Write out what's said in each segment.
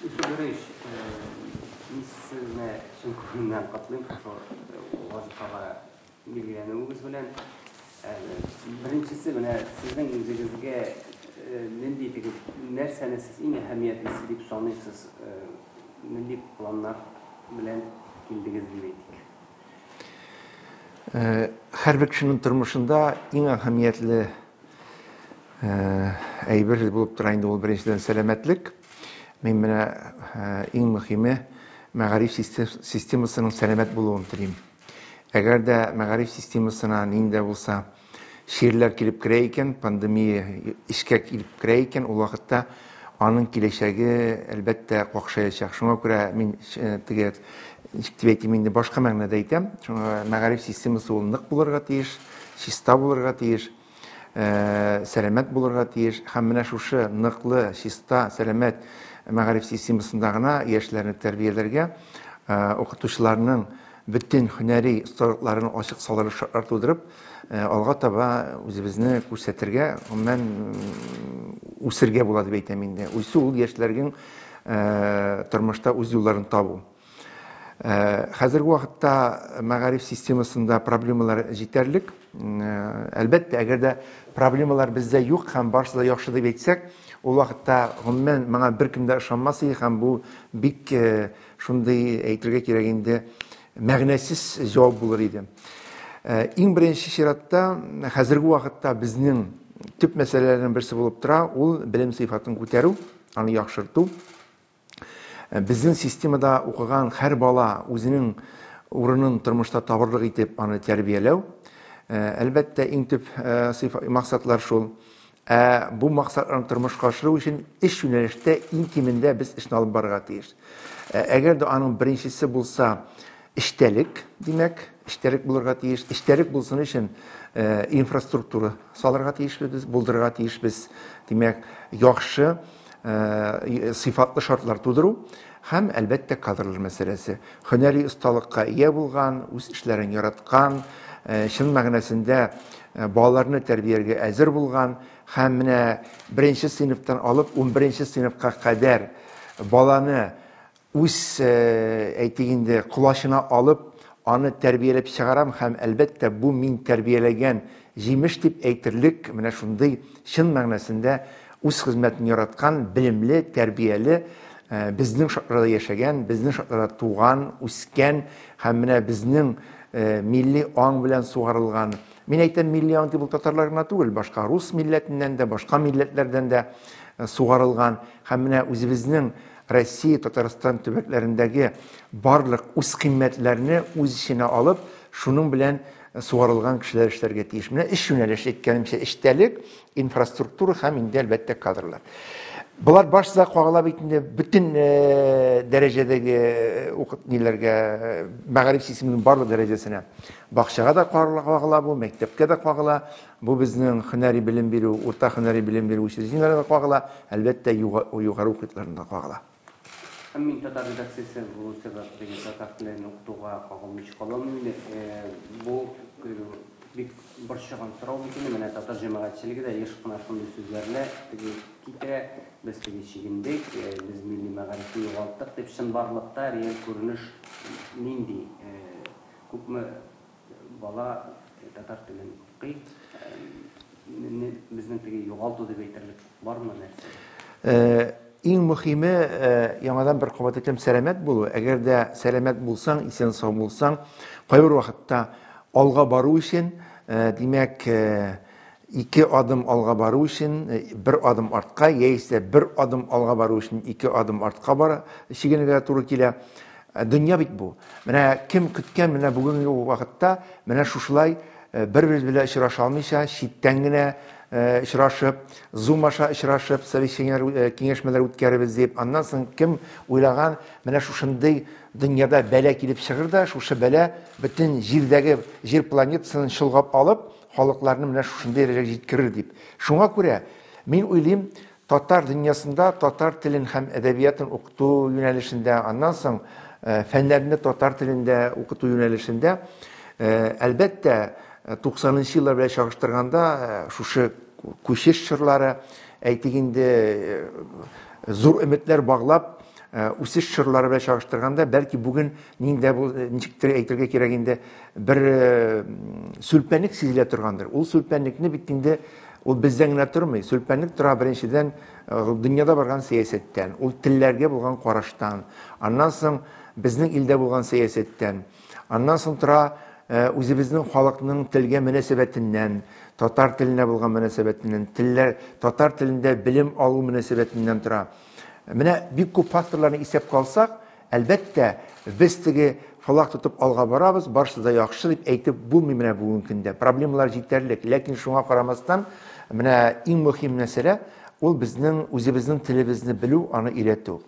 Федорович, мин сезне чын күңелдән котлыйм шул вазифага билгеләнүегез белән. Беренчесе менә сезнең үзегезгә нинди итегез, нәрсәне сез иң әһәмиятлесе дип саныйсыз, нинди планнар белән килдегез дип әйтик? Э, һәрбер кешенең тормышында иң әһәмиятле э, әйбер булып тора инде ул беренчедән сәламәтлек мин менә э, иң мөһиме мәгариф системасының сәламәт булуын телим әгәр дә мәгариф системасына нинди булса Чирләр килеп керә икән, пандемия эчкә килеп керә икән, ул вакытта аның киләчәге, әлбәттә, какшаячак. Шуңа күрә мин э, теге, ничек дип әйтим инде, башка мәгънәдә әйтәм. Шуңа мәгариф системасы ул нык булырга тиеш, чиста булырга тиеш, э, сәламәт булырга тиеш. Һәм менә шушы ныклы, чиста, сәламәт мәгариф системасында гына яшьләрне тәрбияләргә, э, укытучыларның бөтен һөнәри осталыкларын ачык салырлык шартлар тудырып, алга таба үзебезне күрсәтергә, гомумән, үсергә була дип әйтәм инде. Үсү ул яшьләргең тормышта үз юлларын табу. Хәзерге вакытта мәгариф системасында проблемалар җитәрлек. Әлбәттә, әгәр дә проблемалар бездә юк һәм барысы да яхшы дип әйтсәк, ул вакытта, гомумән, моңа беркем дә ышанмас иде һәм бу бик Шундый әйтергә кирәк инде, мәгънәсез җавап булыр иде. Э, иң беренче чиратта, хәзерге вакытта безнең төп мәсьәләләрнең берсе булып тора, ул белем сыйфатын күтәрү, аны яхшырту. Э, безнең системада укыган һәр бала үзенең урынын тормышта табырлык итеп аны тәрбияләү. Э, әлбәттә, иң төп максатлар шул. Ә бу максатларны тормышка ашыру өчен өч юнәлештә иң кимендә без эшне алып барырга тиеш. Әгәр дә аның беренчесе булса, эчтәлек, димәк, эчтәлек булырга тиеш. Эчтәлек булсын өчен инфраструктура салырга тиешбез без, булдырырга тиешбез. Димәк, яхшы э, сыйфатлы шартлар тудыру һәм әлбәттә кадрлар мәсьәләсе һөнәри осталыкка ия булган үз эшләрен яраткан э, чын мәгънәсендә э, балаларны тәрбияләргә әзер булган һәм менә беренче сыйныфтан алып унберенче сыйныфка кадәр баланы үз, әйтик инде, колачына алып, аны тәрбияләп чыгарам һәм, әлбәттә, бу мин тәрбияләгән җимеш дип әйтерлек, менә шундый чын мәгънәсендә үз хезмәтен яраткан, белемле, тәрбияле, безнең шартларда яшәгән, безнең шартларда туган, үскән һәм менә безнең милли аң белән сугарылган, мин әйтәм, милли аң дип ул татарлар гына түгел, башка рус милләтеннән дә, башка милләтләрдән дә сугарылган һәм менә үзебезнең Россия, Татарстан төбәкләрендәге барлык үзкыйммәтләрне үз эченә алып, шуның белән сугарылган кешеләр эшләргә тиеш. Менә өч юнәлеш әйткәнемчә, эчтәлек, инфраструктура һәм инде әлбәттә кадрлар. Болар башта кагыла бит инде бөтен э, дәрәҗәдәге э, укыт ниләргә э, мәгариф системының барлык дәрәҗәсенә. Бакчага да кагыла бу, мәктәпкә дә кагыла, Бу безнең һөнәри белем бирү, урта һөнәри белем бирү учреждениеләренә дә кагыла, әлбәттә, югары уку йортларына да кагыла. Һәм мин татар редакциясе булу сәбәпле, татар телен укытуга кагылмыйча каламыни? Бу бик борчыган сорау бит инде. Менә татар җәмәгатьчелеге дә еш кына шундый сүзләрне теге китерә, без теге чигендек, без милли мәгарифне югалттык дип. Чынбарлыкта реаль күренеш нинди? Күпме Бала татар телен укый. Мине безнең теге югалту дип әйтерлек бармы нәрсә? Э, иң мөхиме э, яңадан бер кабат әйтәм сәламәт булу әгәр дә сәламәт булсаң исән сау булсаң кайбер вакытта алга бару өчен э, димәк Ике адым алга бару өчен бер адым артка яисә бер адым алга бару өчен ике адым артка бара, чигенергә туры килә. Дөнья бит бу. Менә кем көткән менә бүгенге вакытта менә шушылай бер-беребез белән очраша алмыйча, читтән генә очрашып, Zoom аша очрашып, совещаниеләр, киңәшмәләр үткәребез дип, аннан соң кем уйлаган, менә шушындый дөньяда бәла килеп чыгыр да, шушы бәла бөтен җирдәге җир планетасын чолгап алып, халыкларны менә шушындый дәрәҗәгә җиткерер дип. Шуңа күрә мин уйлыйм, татар дөньясында татар телен һәм әдәбиятын укыту юнәлешендә, аннан соң э, фәннәрне татар телендә укыту юнәлешендә, э, әлбәттә, 90 э, нчы еллар белән чагыштырганда, шушы күчеш чорлары, әйтик инде, зур өметләр баглап, Э, үсеш чорлары белән чагыштырганда бәлки бүген ниндә бу э, ничектер әйтергә кирәк инде бер э, сүлпәнлек сизелә торгандыр ул сүлпәнлекне бит инде ул бездән генә тормый сүлпәнлек тора беренчедән дөньяда барган сәясәттән ул телләргә булган караштан аннан соң безнең илдә булган сәясәттән аннан соң тора үзебезнең халыкның телгә мөнәсәбәтеннән татар теленә булган мөнәсәбәтеннән телләр татар телендә белем алу мөнәсәбәтеннән тора Менә бик күп факторларны исәпкә алсак, әлбәттә, без теге флаг тотып алга барабыз, барысы да яхшы дип әйтеп булмый менә бүгенге көндә. Проблемалар җитәрлек, ләкин шуңа карамастан, менә иң мөһим мәсьәлә ул безнең үзебезнең телебезне белү, аны өйрәтү.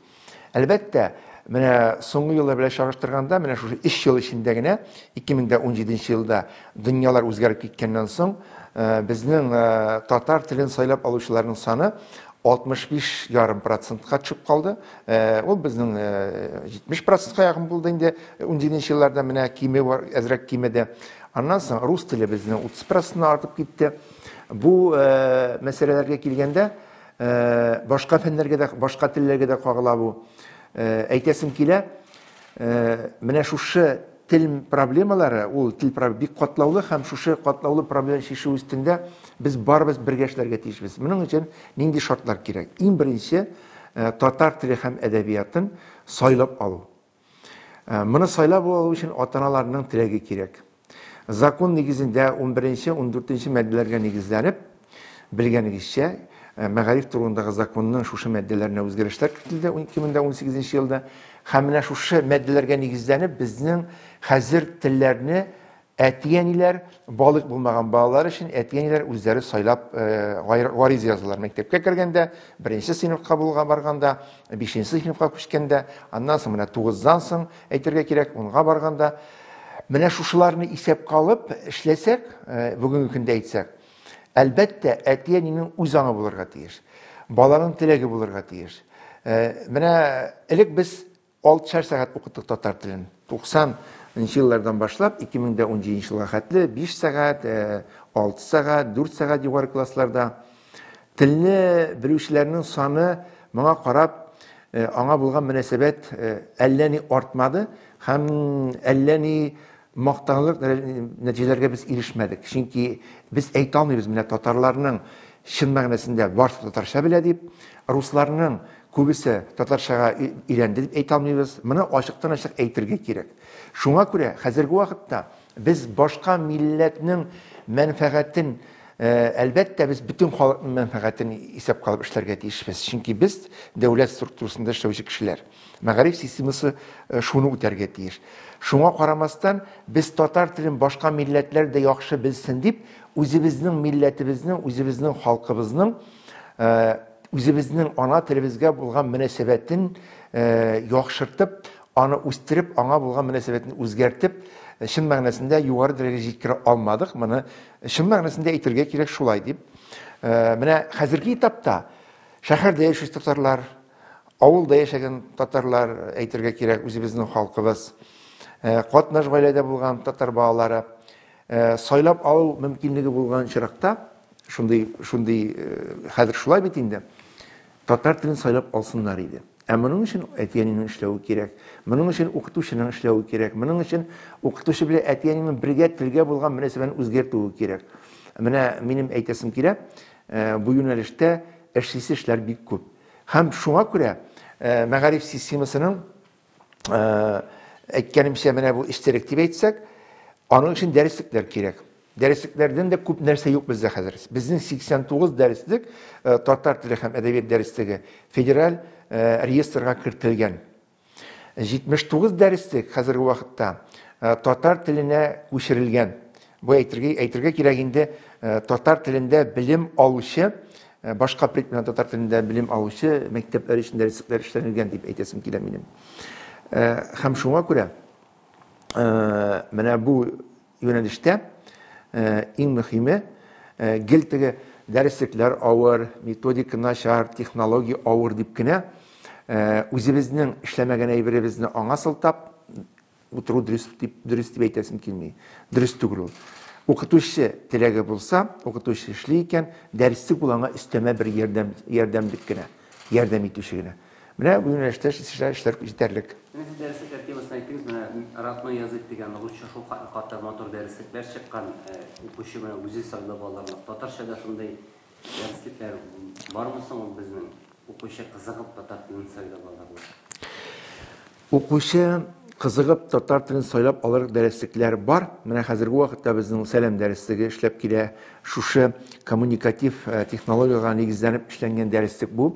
Әлбәттә, менә соңгы еллар белән чагыштырганда, менә шушы 3 ел эчендә генә 2017 елда дөньялар үзгәреп киткәннән соң, безнең татар телен сайлап алучыларның саны 65 ярым процентка төшеп калды. Ул безнең 70 процентка якын булды инде ундиненче елларда, менә кими бар, әзрәк кимеде. Аннан соң рус теле безнең 30 проценттан артып китте. Бу мәсьәләләргә килгәндә, башка фәннәргә дә, башка телләргә дә кагыла бу. Әйтәсем килә, Менә шушы тел проблемалары, ул тел проблемалары бик катлаулы һәм шушы катлаулы проблеманы чишү өстендә без барыбыз бергә эшләргә тиешбез. Моның өчен нинди шартлар кирәк? Иң беренче, татар теле һәм әдәбиятын сайлап алу. Моны сайлап алу өчен ата-аналарның теләге кирәк. Закон нигезендә унберенче, ундүртенче маддәләргә нигезләнеп, белгәнегезчә, э, мәгариф турындагы законның шушы маддәләренә үзгәрешләр кертелде 2018 елда. Һәм менә шушы маддәләргә нигезләнеп, безнең хәзер телләрне әти-әниләр, балык булмаган балалар өчен әти-әниләр үзләре сайлап гариза э, язалар. Мәктәпкә кергәндә, беренче сыйныфка булга барганда, бишенче сыйныфка күчкәндә, аннан соң менә тугыздан соң Әйтергә кирәк, унга барганда, менә шушыларны исәпкә алып эшләсәк, э, бүгенге көндә әйтсәк, әлбәттә, әти-әнинең үз аңы булырга тиеш. Баланың теләге булырга тиеш. Э, менә элек без 6 шәр сәгать укыттык татар телен. 90 нчы еллардан башлап 2017 елга хәтле 5 сәгать, 6 сәгать, 4 сәгать югары классларда Телне белүчеләрнең саны моңа карап э, аңа булган мөнәсәбәт э, әллә ни артмады һәм әллә ни мактанлык нәтиҗәләргә без ирешмәдек. Чөнки без әйтә алмыйбыз менә татарларның чын мәгънәсендә барысы татарча белә дип, русларның күбесе татарчага өйрәнде дип әйтә алмыйбыз. Моны ачыктан-ачык әйтергә кирәк. Шуңа күрә хәзерге вакытта Без башка милләтнең мәнфәгатен, әлбәттә, без бөтен халыкның мәнфәгатен исәпкә алып эшләргә тиешбез. Чөнки без дәүләт структурасында эшләүче кешеләр. Мәгариф системасы шуны үтәргә тиеш. Шуңа карамастан, без татар телен башка милләтләр дә яхшы белсен дип, үзебезнең милләтебезнең, үзебезнең халкыбызның, үзебезнең ана телебезгә булган мөнәсәбәтен яхшыртып, Аны үстереп, аңа булган мөнәсәбәтне үзгәртеп, чын мәгънәсендә югары дәрәҗәгә җиткерә алмадык. Моны чын мәгънәсендә әйтергә кирәк шулай дип. Э, менә хәзерге этапта шәһәрдә яшәүче татарлар, авылда яшәгән татарлар әйтергә кирәк, үзебезнең халкыбыз, э, катнаш гаиләдә булган татар балалары э, сайлап алу мөмкинлеге булган очракта, шундый шундый хәзер шулай бит инде. Татар телен сайлап алсыннар иде. Ә моның өчен әти-әнинең эшләве кирәк. Моның өчен укытучының эшләве кирәк. Моның өчен укытучы белән әти-әнинең бергә телгә булган мөнәсәбәтен үзгәртүе кирәк. Менә минем әйтәсем килә, э, бу юнәлештә эшлисе эшләр бик күп. Һәм шуңа күрә э, мәгариф системасының әйткәнемчә менә бу истерик дип әйтсәк, аның өчен дәреслекләр кирәк. Дәреслекләрдән дә күп нәрсә юк бездә хәзер. Безнең 89 дәреслек э, татар теле һәм әдәбият дәреслеге федераль э, реестрга кертелгән. 79 дәреслек хәзерге вакытта э, татар теленә күчерелгән. Бу әйтергә әйтергә кирәк инде татар телендә белем алучы Башка пред белән татар телендә белем алучы мәктәпләр өчен дә рецептлар эшләнелгән дип әйтәсем килә минем. Һәм шуңа күрә менә бу юнәлештә иң мөһиме гел теге дәреслекләр авыр, методика начар, технология авыр дип кенә үзебезнең эшләмәгән әйберебезне аңа сылтап, Утыру дөрес дип, дөрес дип әйтәсем килми. Дөрес түгел ул. Укытучы теләге булса, укытучы эшли икән, дәресте ул аңа өстәмә бер ярдәм, ярдәмлек кенә, ярдәм итүче генә. Менә бу юнәлештә эшләр, эшләр җитәрлек. Сез дәресе тәртибасын әйттегез, менә Родной язык дигән русча шул кадәр матур дәреслекләр чыккан, укучы менә үзе сайлап алырлык. Татарча да шундый Укучы кызыгып татар телен сайлап алыр дәреслекләр бар. Менә хәзерге вакытта безнең сәлам дәреслеге эшләп килә. Шушы коммуникатив э, технологиягә нигезләнеп эшләнгән дәреслек бу.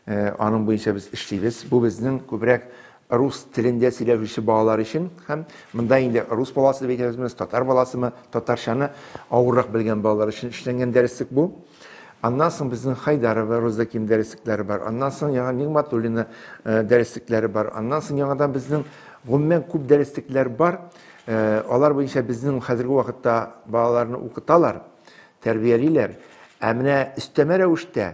Э, аның буенча без эшлибез. Бу безнең күбрәк рус телендә сөйләшүче балалар өчен һәм монда инде рус баласы дип әйтәбезме, татар баласымы, татарчаны авыррак белгән балалар өчен эшләнгән дәреслек бу. Аннан соң безнең Хайдарова Розаким дәреслекләре бар. Аннан соң яңа Нигматуллина э, дәреслекләре бар. Аннан соң яңадан безнең гомумән күп дәреслекләр бар. Э, алар буенча безнең хәзерге вакытта балаларны укыталар, тәрбиялиләр. Ә менә өстәмә рәвештә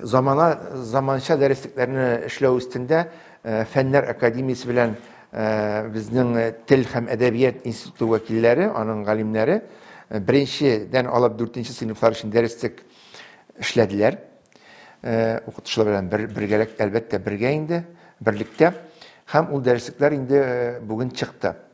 Замана заманча дәреслекләрне эшләү өстендә Фәннәр академиясе белән безнең тел һәм әдәбият институты вәкилләре, аның галимнәре беренчедән алып дүртенче сыйныфлар өчен дәреслек эшләделәр. Укытучылар белән бер, бергәләк, әлбәттә, бергә инде, берлектә. Һәм ул дәреслекләр инде бүген чыкты.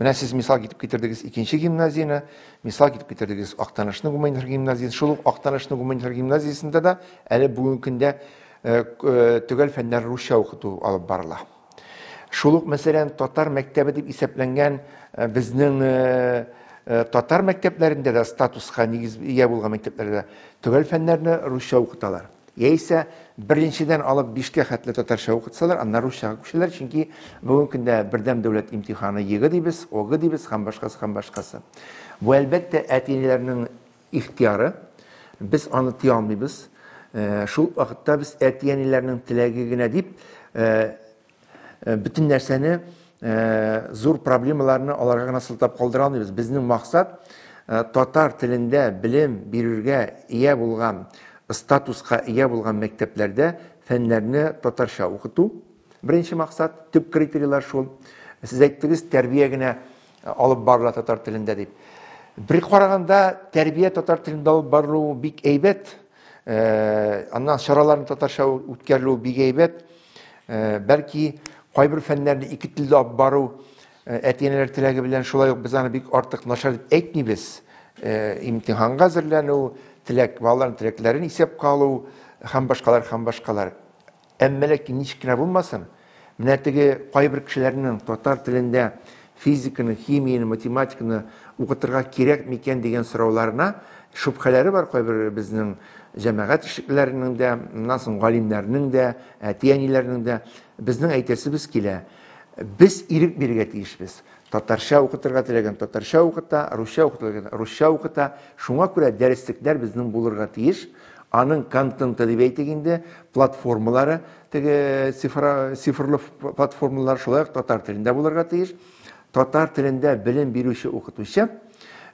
Менә сез мисал китеп китердегез икенче гимназияне, мисал китеп китердегез Актанышның гуманитар гимназиясе. Шул ук Актанышның гуманитар гимназиясендә дә әле бүгенге көндә э, э, төгәл фәннәр русча укыту алып барыла. Шул ук, мәсәлән, татар мәктәбе дип исәпләнгән э, безнең татар мәктәпләрендә дә статуска нигез ия булган мәктәпләрдә төгәл фәннәрне русча укыталар. Яисә беренчедән алып бишкә хәтле татарча укытсалар, аннары русчага күчәләр, чөнки бүгенге көндә бердәм дәүләт имтиханы ЕГЭ дибез, ОГЭ дибез һәм башкасы һәм башкасы. Бу әлбәттә әти-әниләрнең ихтияры. Без аны тыя алмыйбыз. Э, шул вакытта без әти-әниләрнең теләге генә дип э, Э, бөтен нәрсәне э, зур проблемаларны аларга гына сылтап калдыра алмыйбыз безнең максат э, татар телендә белем бирергә ия булган статуска ия булган мәктәпләрдә фәннәрне татарча укыту беренче максат төп критерийлар шул сез әйттегез тәрбия генә алып барыла татар телендә дип бер караганда тәрбия татар телендә алып барылуы бик әйбәт Э, аннан чараларны татарча үткәрелү бик әйбәт э, бәлки кайбер фәннәрне ике телдә алып бару э, әти әниләр теләге белән шулай ук без аны бик артык начар дип әйтмибез имтиханга әзерләнү теләк балаларның теләкләрен исәпкә алу һәм башкалар һәм башкалар Әмма ләкин ничек кенә булмасын, менә теге кайбер кешеләрнең татар телендә физиканы, химияне, математиканы укытырга кирәк микән дигән сорауларына шөбхәләре бар кайбер безнең җәмәгать эшлеклеләренең дә, моннан соң галимнәрнең дә, әти-әниләрнең дә. Безнең әйтәсебез килә, без ирек бирергә тиешбез. Татарча укытырга теләгән татарча укыта, русча укытырга русча укыта. Шуңа күрә дәреслекләр безнең булырга тиеш. Аның контенты дип әйтик инде, платформалары, теге цифрлы платформалар шулай ук татар телендә булырга тиеш. Татар телендә белем бирүче укытучы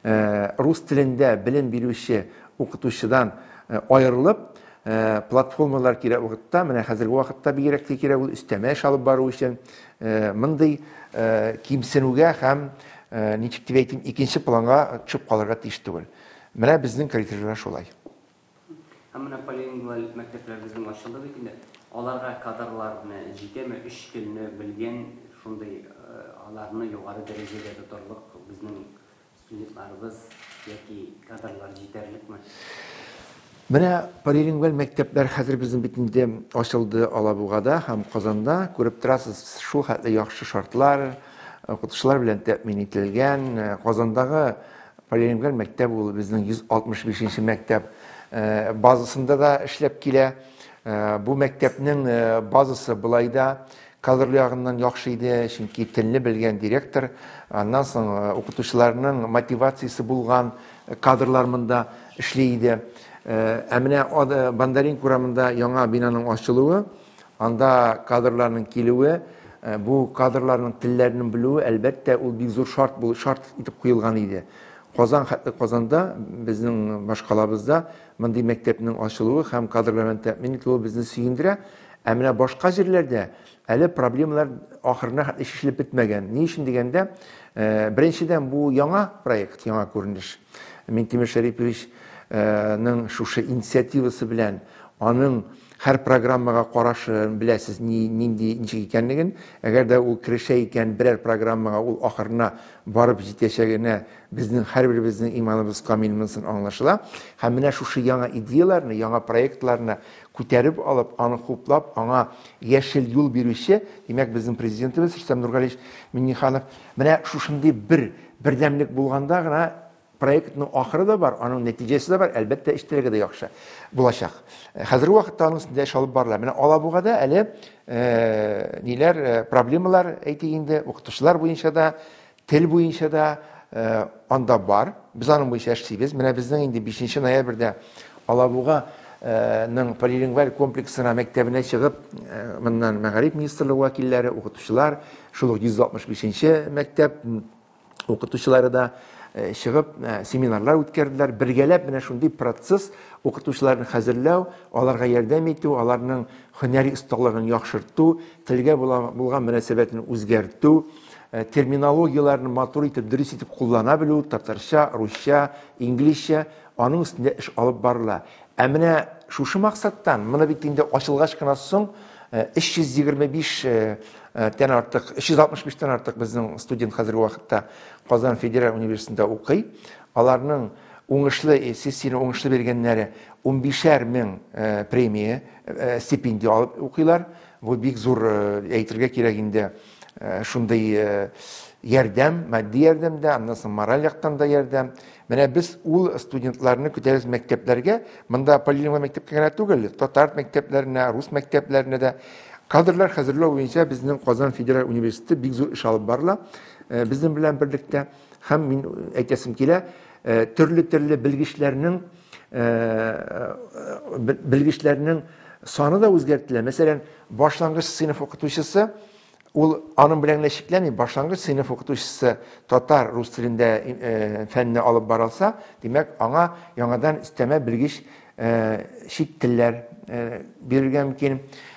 э, рус телендә белем бирүче укытучыдан э, аерылып, Э, платформалар кирәк вакытта, менә хәзерге вакытта бигрәк тә кирәк ул өстәмә эш алып бару өчен, Э, мондый э, кимсенүгә һәм э, ничек дип әйтим икенче планга төшеп калырга тиеш түгел менә безнең коллективлар шулай һәм менә полилингваль мәктәпләр безнең ачылды бит инде аларга кадрлар менә җитәме өч телне белгән шундый аларны югары дәрәҗәдә тотарлык безнең Студентларыбыз яки кадрлар җитәрлекме? Менә полилингваль мәктәпләр хәзер безнең бит инде ачылды Алабугада һәм Казанда. Күреп торасыз, шул хәтле яхшы шартлар, укытучылар белән тәэмин ителгән. Казандагы полилингваль мәктәп ул безнең 165 нче мәктәп базасында да эшләп килә. Бу мәктәпнең базасы былай да Кадрлы ягыннан яхшы иде, чөнки телне белгән директор, аннан соң укытучыларның мотивациясе булган кадрлар монда эшли иде. Ә менә Бондаренко урамында яңа бинаның ачылуы, анда кадрларның килүе, бу кадрларның телләрен белүе, әлбәттә, ул бик зур шарт бул, шарт итеп куелган иде. Казан, хәтта Казанда, безнең башкалабызда мондый мәктәпнең ачылуы һәм кадрлар белән тәэмин ителүе безне сөендерә. Ә менә башка җирләрдә әле проблемалар ахырына хәтле чишелеп бетмәгән. Ни өчен дигәндә, э, беренчедән бу яңа проект, яңа күренеш. Минтимер Шәрипович э, ның шушы инициативасы белән аның һәр программага карашын беләсез ни нинди ничек икәнлеген әгәр дә ул керешә икән берәр программага ул ахырына барып җитәчәгенә безнең һәрберебезнең иманыбыз камил монсын аңлашыла һәм менә шушы яңа идеяләрне яңа проектларны Күтәреп алып, аны хуплап, аңа яшел юл бирүче, димәк, безнең Президентыбыз Рөстәм Нургалиевич Миңнеханов. Менә шушындый бер бердәмлек булганда гына проектның ахыры да бар, аның нәтиҗәсе дә бар, әлбәттә, эчтәлеге дә яхшы булачак. Хәзерге вакытта аның өстендә эш алып барыла. Менә Алабугада әле ниләр, проблемалар әйтик инде, укытучылар буенча да, Тел буенча да анда бар. Без аның буенча эшлибез. Менә безнең инде 5 ноябрьдә Алабуга ның полилингваль комплексына мәктәбенә чыгып, моннан мәгариф министрлыгы вәкилләре, укытучылар, шул ук 165 нче мәктәп укытучылары да чыгып, семинарлар үткәрделәр. Бергәләп менә шундый процесс укытучыларны хәзерләү, аларга ярдәм итү, аларның һөнәри осталыгын яхшырту, телгә булган мөнәсәбәтен үзгәртү, Э, терминологияләрне матур итеп, дөрес итеп куллана белү, татарча, русча, инглизчә, аның өстендә эш алып барыла. Ә менә шушы максаттан, моны бит инде ачылгач кына соң 325 э, э, тән артык, 365 тән артык безнең студент хәзерге вакытта Казан федераль университетында укый. Аларның уңышлы сессияне уңышлы биргәннәре 15 мең премия стипендия алып укыйлар. Бу бик зур әйтергә кирәк инде. Э, шундый э, ярдәм, матди ярдәм дә, аннан соң мораль яктан да ярдәм. Менә без ул студентларны көтәбез мәктәпләргә. Монда полилингва мәктәпкә генә түгел, татар мәктәпләренә, рус мәктәпләренә дә кадрлар хәзерләү буенча безнең Казан федераль университеты бик зур эш алып барыла. Э, безнең белән берлектә һәм мин әйтәсем килә, төрле-төрле белгечләрнең белгечләрнең саны да үзгәртелә. Мәсәлән, башлангыч сыйныф укытучысы ул аның белән генә чикләнми, башлангыч сыйныф укытучысы татар, рус телендә фәнне алып барылса, димәк, аңа яңадан өстәмә белгеч чит телләр бирергә мөмкин.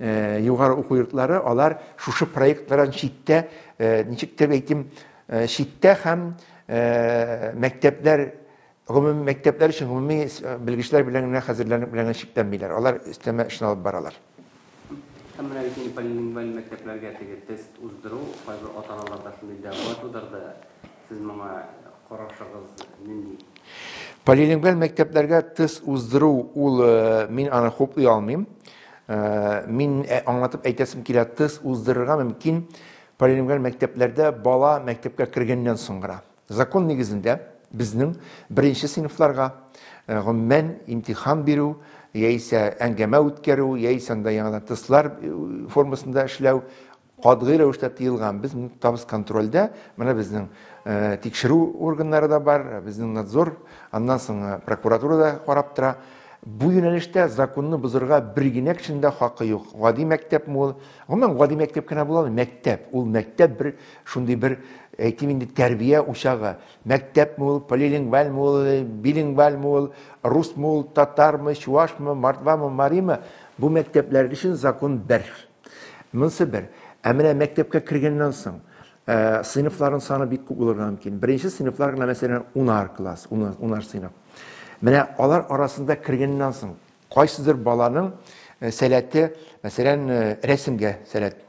Э, югары уку йортлары алар шушы проектлардан читтә э, ничек дип әйтим э, читтә һәм мәктәпләр гомуми мәктәпләр өчен гомуми белгечләр белән генә хәзерләнеп белән чикләнмиләр алар өстәмә эшне алып баралар һәм менә бит инде полилингваль мәктәпләргә теге тест уздыру кайбер ата аналарда шундый дәгъва тудырды Сез моңа карашыгыз нинди? Полилингваль мәктәпләргә тест уздыру ул э, мин аны хуплый алмыйм. Э, мин э, аңлатып әйтәсем килә, тест уздырырга мөмкин полилингваль мәктәпләрдә бала мәктәпкә кергәннән соң гына. Закон нигезендә безнең беренче сыйныфларга гомумән имтихан бирү яисә әңгәмә үткәрү, яисә анда яңадан тестлар э, формасында эшләү, катгый рәвештә тыелган. Без моны тотабыз контрольдә. Менә безнең э, тикшерү органнары да бар, безнең надзор, аннан соң э, прокуратура да карап тора. Бу юнәлештә законны бозырга бер генә кешенең дә хакы юк. Гади мәктәпме ул? Гомумән, гади мәктәп кенә була Мәктәп. Ул мәктәп бер шундый бер әйтим инде тәрбия учагы. Мәктәпме ул, полилингвальме ул, билингвальме ул, русмы ул, татармы, чувашмы, мордвамы, маримы? Бу мәктәпләр өчен закон бер. Монысы бер. Ә менә мәктәпкә кергәннән соң, ә, сыйныфларын саны бик күп булырга мөмкин. Беренче сыйныфлар гына, мәсәлән, унар класс, унар, унар сыйныф. Менә алар арасында кергәннән соң, кайсыдыр баланың э, сәләте, мәсәлән, э, рәсемгә сәләт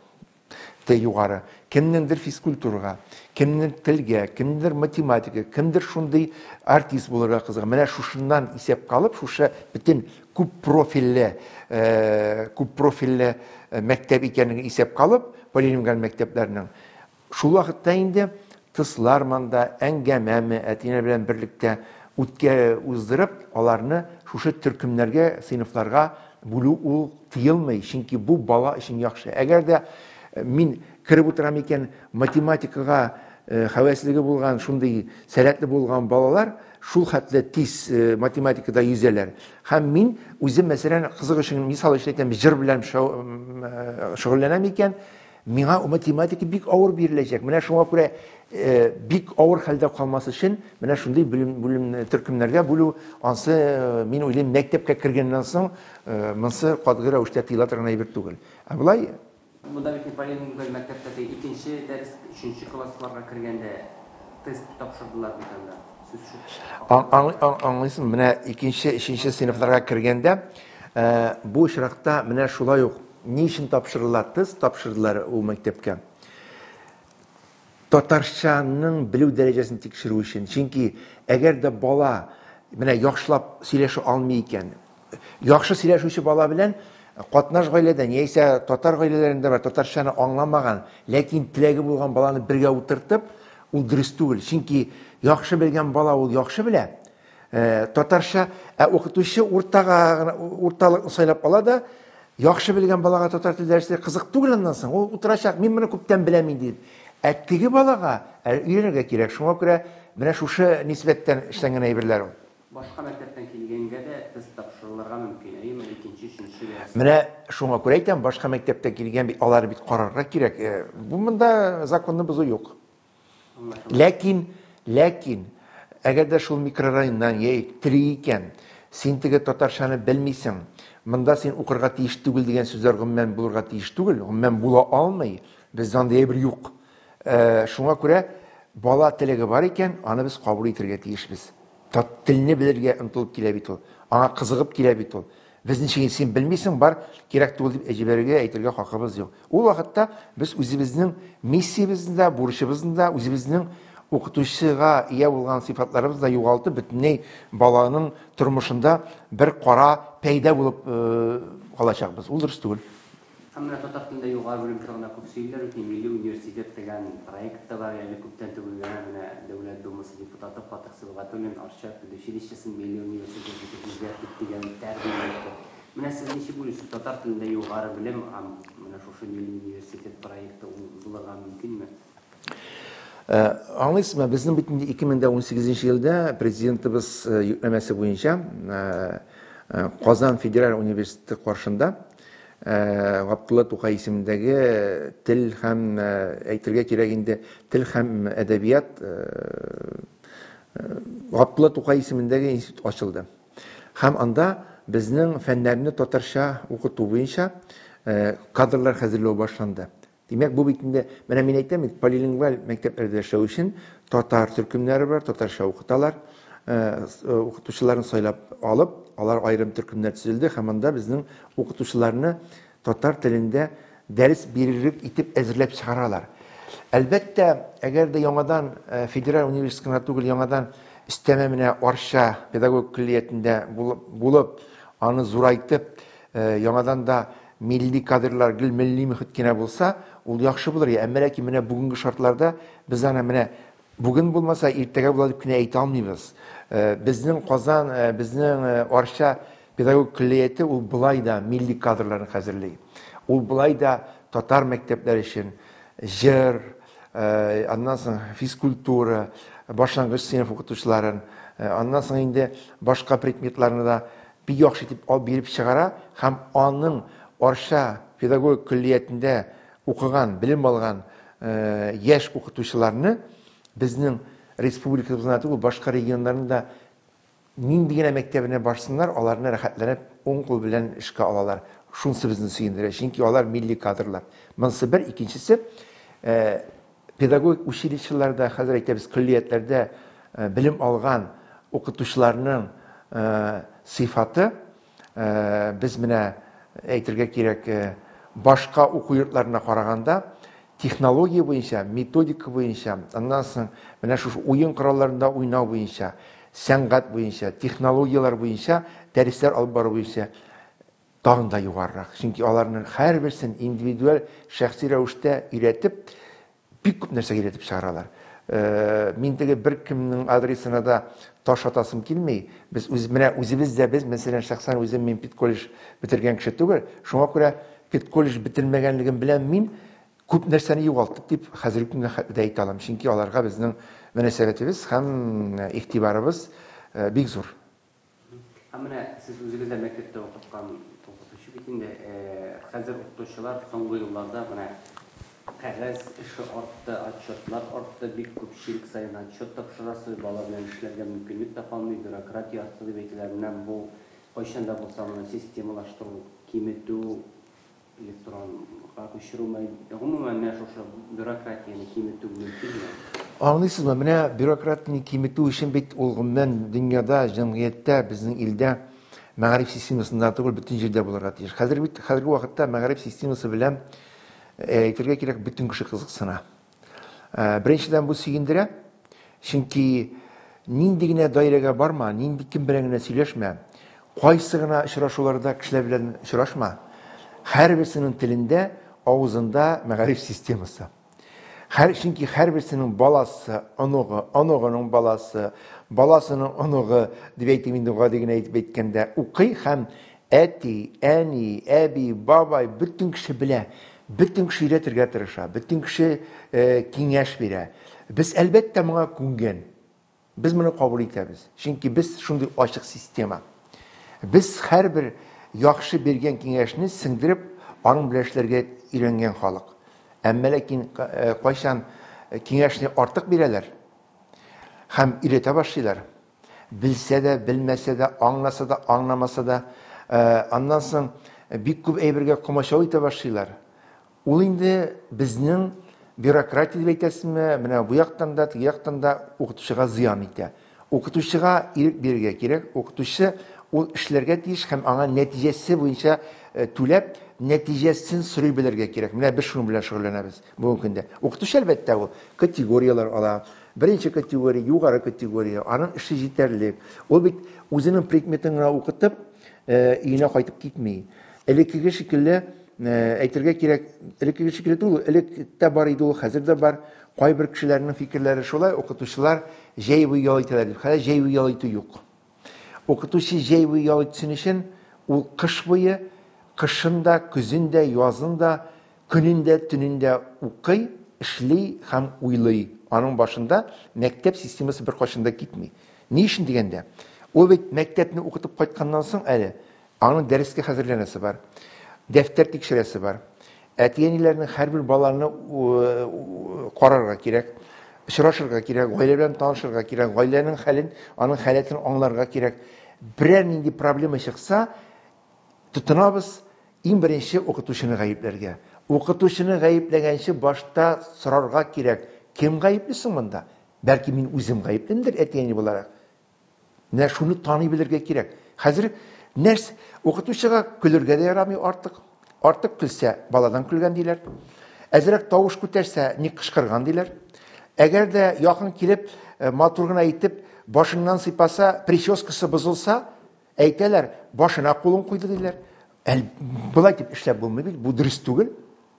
те югары, кемнеңдер физкультурага, кемнең телгә, кемдер математика, кемдер шундый артист булырга кызыга. Менә шушыннан исәп калып, шушы бөтен күп профильле, күп профильле мәктәп икәнлеген исәпкә алып, полилингваль мәктәпләрнең, шул вакытта инде тыслар манда әңгәмәме, әтиләр белән берлектә үткә уздырып, аларны шушы төркемнәргә, сыйныфларга бүлү ул тыелмый, чөнки бу бала өчен яхшы. Әгәр дә э, мин кереп утырам икән математикага э, хәвәслеге булган, шундый сәләтле булган балалар, шул хәтле тиз математикада йөзәләр. Һәм мин үзем, мәсәлән, кызык өчен мисал өчен әйтәм, җыр белән шөгыльләнәм икән, миңа математика бик авыр биреләчәк. Менә шуңа күрә бик авыр хәлдә калмас өчен, менә шундый белем, белем төркемнәргә бүлү, ансы, мин уйлыйм, мәктәпкә кергәннән соң, монсы катгый рәвештә тыела торган әйбер түгел. Ә болай, Монда бит не билингваль мәктәптәге икенче дәрес өченче классларга кергәндә тест тапшырдылар бит анда. Сүз шук. Аң, аңлыйсың, менә икенче, өченче сыйныфларга кергәндә э, бу очракта менә шулай ук ни өчен тапшырдылар? Тест тапшырдылар ул мәктәпкә татарчаның белү дәрәҗәсен тикшерү өчен. Чөнки әгәр дә бала менә яхшылап сөйләшә алмый икән, Яхшы сөйләшүче бала белән катнаш гаиләдән яисә татар гаиләләрендә бар татарчаны аңламаган, ләкин теләге булган баланы бергә утыртып, ул дөрес түгел. Чөнки яхшы белгән бала ул яхшы белә, татарча, ә укытучы уртага гына урталыкны сайлап ала да, яхшы белгән балага татар теле дәресләре кызык түгел аннан соң, ул утырачак, мин моны күптән беләм инде дип. Ә теге балага әле өйрәнергә кирәк. Шуңа күрә менә шушы нисбәттән эшләнгән әйберләр ул. Башка мәктәптән килгәнгә дә тест тапшырылырга мөмкин, әйеме, икенче, өченче дәрестә? Менә шуңа күрә әйтәм, башка мәктәптән килгән бит, алар бит карарга кирәк. Э, бу монда законны бозу юк. Ләкин, ләкин, әгәр дә шул микрорайоннан яик тери икән, син теге татарчаны белмисең, монда син укырга тиеш түгел дигән сүзләр гомумән булырга тиеш түгел, гомумән була алмый, бездә андый әйбер юк. Ә, шуңа күрә бала теләге бар икән, аны без кабул итергә тиешбез. Тат телне белергә ынтылып килә бит ул. Аңа кызыгып килә бит ул. Без ничек син белмисең, бар, кирәк түгел дип җибәрергә, әйтергә хакыбыз юк. Ул вакытта без үзебезнең миссиябезне дә, бурычыбызны да, үзебезнең укытучыга ия булган сыйфатларыбызны да югалтып, бөтенләй баланың тормышында бер кара пәйдә булып э, калачакбыз. Ул дөрес түгел. Һәм менә татар телендә югары белем турында күп сөйлиләр бит, ни милли университет дигән проект та бар, әле күптән түгел генә менә Дәүләт Думасы депутаты Фатыйх Сибгатуллин Арча педучилищесын милли университет итеп үзгәртик дигән тәкъдим әйтте. Менә сез ничек уйлыйсыз, татар телендә югары белем һәм менә шушы милли университет проекты ул булырга мөмкинме? Ә, аңлыйсызмы, безнең бит инде 2018 нче елда Президентыбыз йөкләмәсе буенча, ә, Казан федераль университеты каршында Габдулла Тукай исемендәге тел һәм, әйтергә кирәк инде, тел һәм әдәбият Габдулла Тукай исемендәге институт ачылды. Һәм анда безнең фәннәрне татарча укыту буенча кадрлар хәзерләү башланды. Димәк, бу бит инде, менә мин әйтәм бит, полилингваль мәктәпләрдә эшләү өчен татар төркемнәре бар, татарча укыталар. Укытучыларын сайлап алып, алар аерым төркемнәр төзелде һәм анда безнең укытучыларны татар телендә дәрес бирерлек итеп әзерләп чыгаралар. Әлбәттә, әгәр дә яңадан федераль университет кына түгел, яңадан өстәмә менә Арча педагогик көллиятендә булып, аны зурайтып, яңадан да Милли кадрлар гел милли мөхит кенә булса, ул яхшы булыр иде. Әмма ләкин менә бүгенге шартларда без аны менә бүген булмаса, иртәгә була дип кенә әйтә алмыйбыз. Э, безнең Казан, э, безнең э, Арча педагогик көллияте ул былай да милли кадрларны хәзерли. Ул былай да татар мәктәпләре өчен җыр, аннан соң физкультура, башлангыч сыйныф укытучыларын, аннан соң инде башка предметларны да бик яхшы итеп алып биреп чыгара һәм аның Арча педагогик көллиятендә укыган, белем алган яшь укытучыларны безнең республикабызның гына түгел, башка регионнарның да нинди генә мәктәбенә барсыннар, аларны рәхәтләнеп уң кул белән эшкә алалар. Шунысы безне сөендерә, чөнки алар милли кадрлар. Монысы бер, икенчесе, Педагогик училищеларда, хәзер әйтәбез, көллиятләрдә белем алган укытучыларның сыйфаты без менә әйтергә кирәк, башка уку йортларына караганда технология буенча, методика буенча, аннан соң менә шушы уен коралларында уйнау буенча, сәнгать буенча, технологияләр буенча, дәресләр алып бару буенча тагын да югарырак, чөнки аларның һәрберсен индивидуаль, шәхси рәвештә өйрәтеп, бик күп нәрсә өйрәтеп чыгаралар. Э, мин теге беркемнең адресына да таш атасым килми. Без үз менә үзебез дә без, мәсәлән, шәхсән үзем мин педколледж бетергән кеше түгел. Шуңа күрә педколледж бетермәгәнлегем белән мин күп нәрсәне югалттык дип хәзерге көнгә дә әйтә алам. Чөнки аларга безнең мөнәсәбәтебез һәм э, игътибарыбыз э, бик зур. Ә менә сез үзегез дә мәктәптә укыткан укытучы бит инде. Хәзер укытучылар соңгы елларда менә кәгазь эше артты, отчетлар артты, бик күп чирек саен отчет тапшырасыз, бала белән эшләргә мөмкинлек тә калмый, бюрократия артты дип әйтәләр. Менә бу кайчан да булса моны системалаштыру, киметү, Электронга күчерү мә, гомумән, менә шушы бюрократияне киметү мөмкинме? Аңлыйсызмы, менә бюрократияне киметү өчен бит ул гомумән дөньяда, җәмгыятьтә, безнең илдә мәгариф системасында түгел, бөтен җирдә булырга тиеш. Хәзер бит хәзерге вакытта мәгариф системасы белән, әйтергә кирәк, бөтен кеше кызыксына. Э, беренчедән бу сөендерә чөнки нинди генә даирәгә барма нинди кем белән генә сөйләшмә кайсы гына очрашуларда кешеләр белән очрашма һәрберсенең телендә авызында мәгариф системасы һәр чөнки һәрберсенең баласы оныгы оныгының баласы баласының оныгы дип әйтим инде гади генә әйтеп әйткәндә укый һәм Әти, әни, әби, бабай, бөтен кеше белә, бөтен кеше өйрәтергә тырыша, бөтен кеше киңәш бирә. Без, әлбәттә, моңа күнгән. Без моны кабул итәбез. Чөнки без шундый ачык система. Без һәрбер яхшы биргән киңәшне сеңдереп, аның белән эшләргә өйрәнгән халык. Әмма ләкин кайчан киңәшне артык бирәләр һәм өйрәтә башлыйлар, Белсә дә, белмәсә дә, аңласа да, аңламаса да, аннан соң бик күп әйбергә комачау итә башлыйлар. Ул инде безнең бюрократия дип әйтәсезме, менә бу яктан да, теге яктан да укытучыга зыян итә. Укытучыга ирек бирергә кирәк, укытучы ул эшләргә тиеш һәм аңа нәтиҗәсе буенча түләп, нәтиҗәсен сорый белергә кирәк. Менә без шуның белән шөгыльләнәбез. Бүгенге көндә укытучы, әлбәттә, ул категорияләр ала. Беренче категория, югары категория, аның эше җитәрлек. Ул бит үзенең предметын гына укытып, өенә э, кайтып китми. Элеккеге шикелле э, әйтергә кирәк, элеккеге шикелле түгел, элек тә бар иде ул, хәзер дә бар. Кайбер кешеләрнең фикерләре шулай, укытучылар җәй буе ял итәләр дип. Хәзер җәй буе ял итү юк. Укытучы җәй буе ял итсен өчен, ул кыш буе, кышын да, көзен дә, язын да, көнен дә, төнен дә укый, эшли һәм уйлый. Аның башында мәктәп системасы беркайчан да китми. Ни өчен дигәндә, ул бит мәктәпне укытып кайтканнан соң әле Аның дәрескә хәзерләнәсе бар, дәфтәр тикшерәсе бар. Әти-әниләрнең һәрбер баланы карарга кирәк, очрашырга кирәк, гаилә белән танышырга кирәк, гаиләнең хәлен, аның халәтен аңларга кирәк. Берәр нинди проблема чыкса, тотынабыз иң беренче укытучыны гаепләргә. Укытучыны гаепләгәнче башта сорарга кирәк, кем гаепле соң монда? Бәлки мин үзем гаеплемдер әти-әни буларак? Менә шуны таный белергә кирәк. Хәзер нәрс укытучыга көлергә дә ярамый артык. Артык көлсә, баладан көлгән диләр. Әзрәк тавыш күтәрсә, ник кычкырган диләр. Әгәр дә якын килеп, э, матур гына итеп, башыннан сыйпаса, прическасы бозылса, әйтәләр, башына кулын куйды диләр. Әл, болай дип эшләп булмый бит, бу дөрес түгел.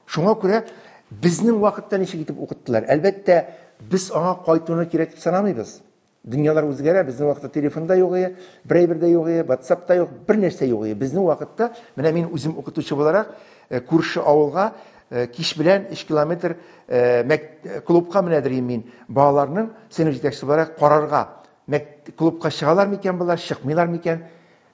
Шуңа күрә безнең вакытта ничек итеп укыттылар? Әлбәттә, без аңа кайтуны кирәк дип санамыйбыз. Дөньялар үзгәрә, безнең вакытта телефон да юк иде, брейбер дә юк иде, WhatsApp та юк, бер нәрсә юк иде. Безнең вакытта, менә мин үзем укытучы буларак, э, күрше авылга э, кич белән 3 километр э, клубка менә дирим мин, балаларның сыйныф җитәкчесе буларак карарга. Мәк клубка чыгалар микән болар, чыкмыйлар микән?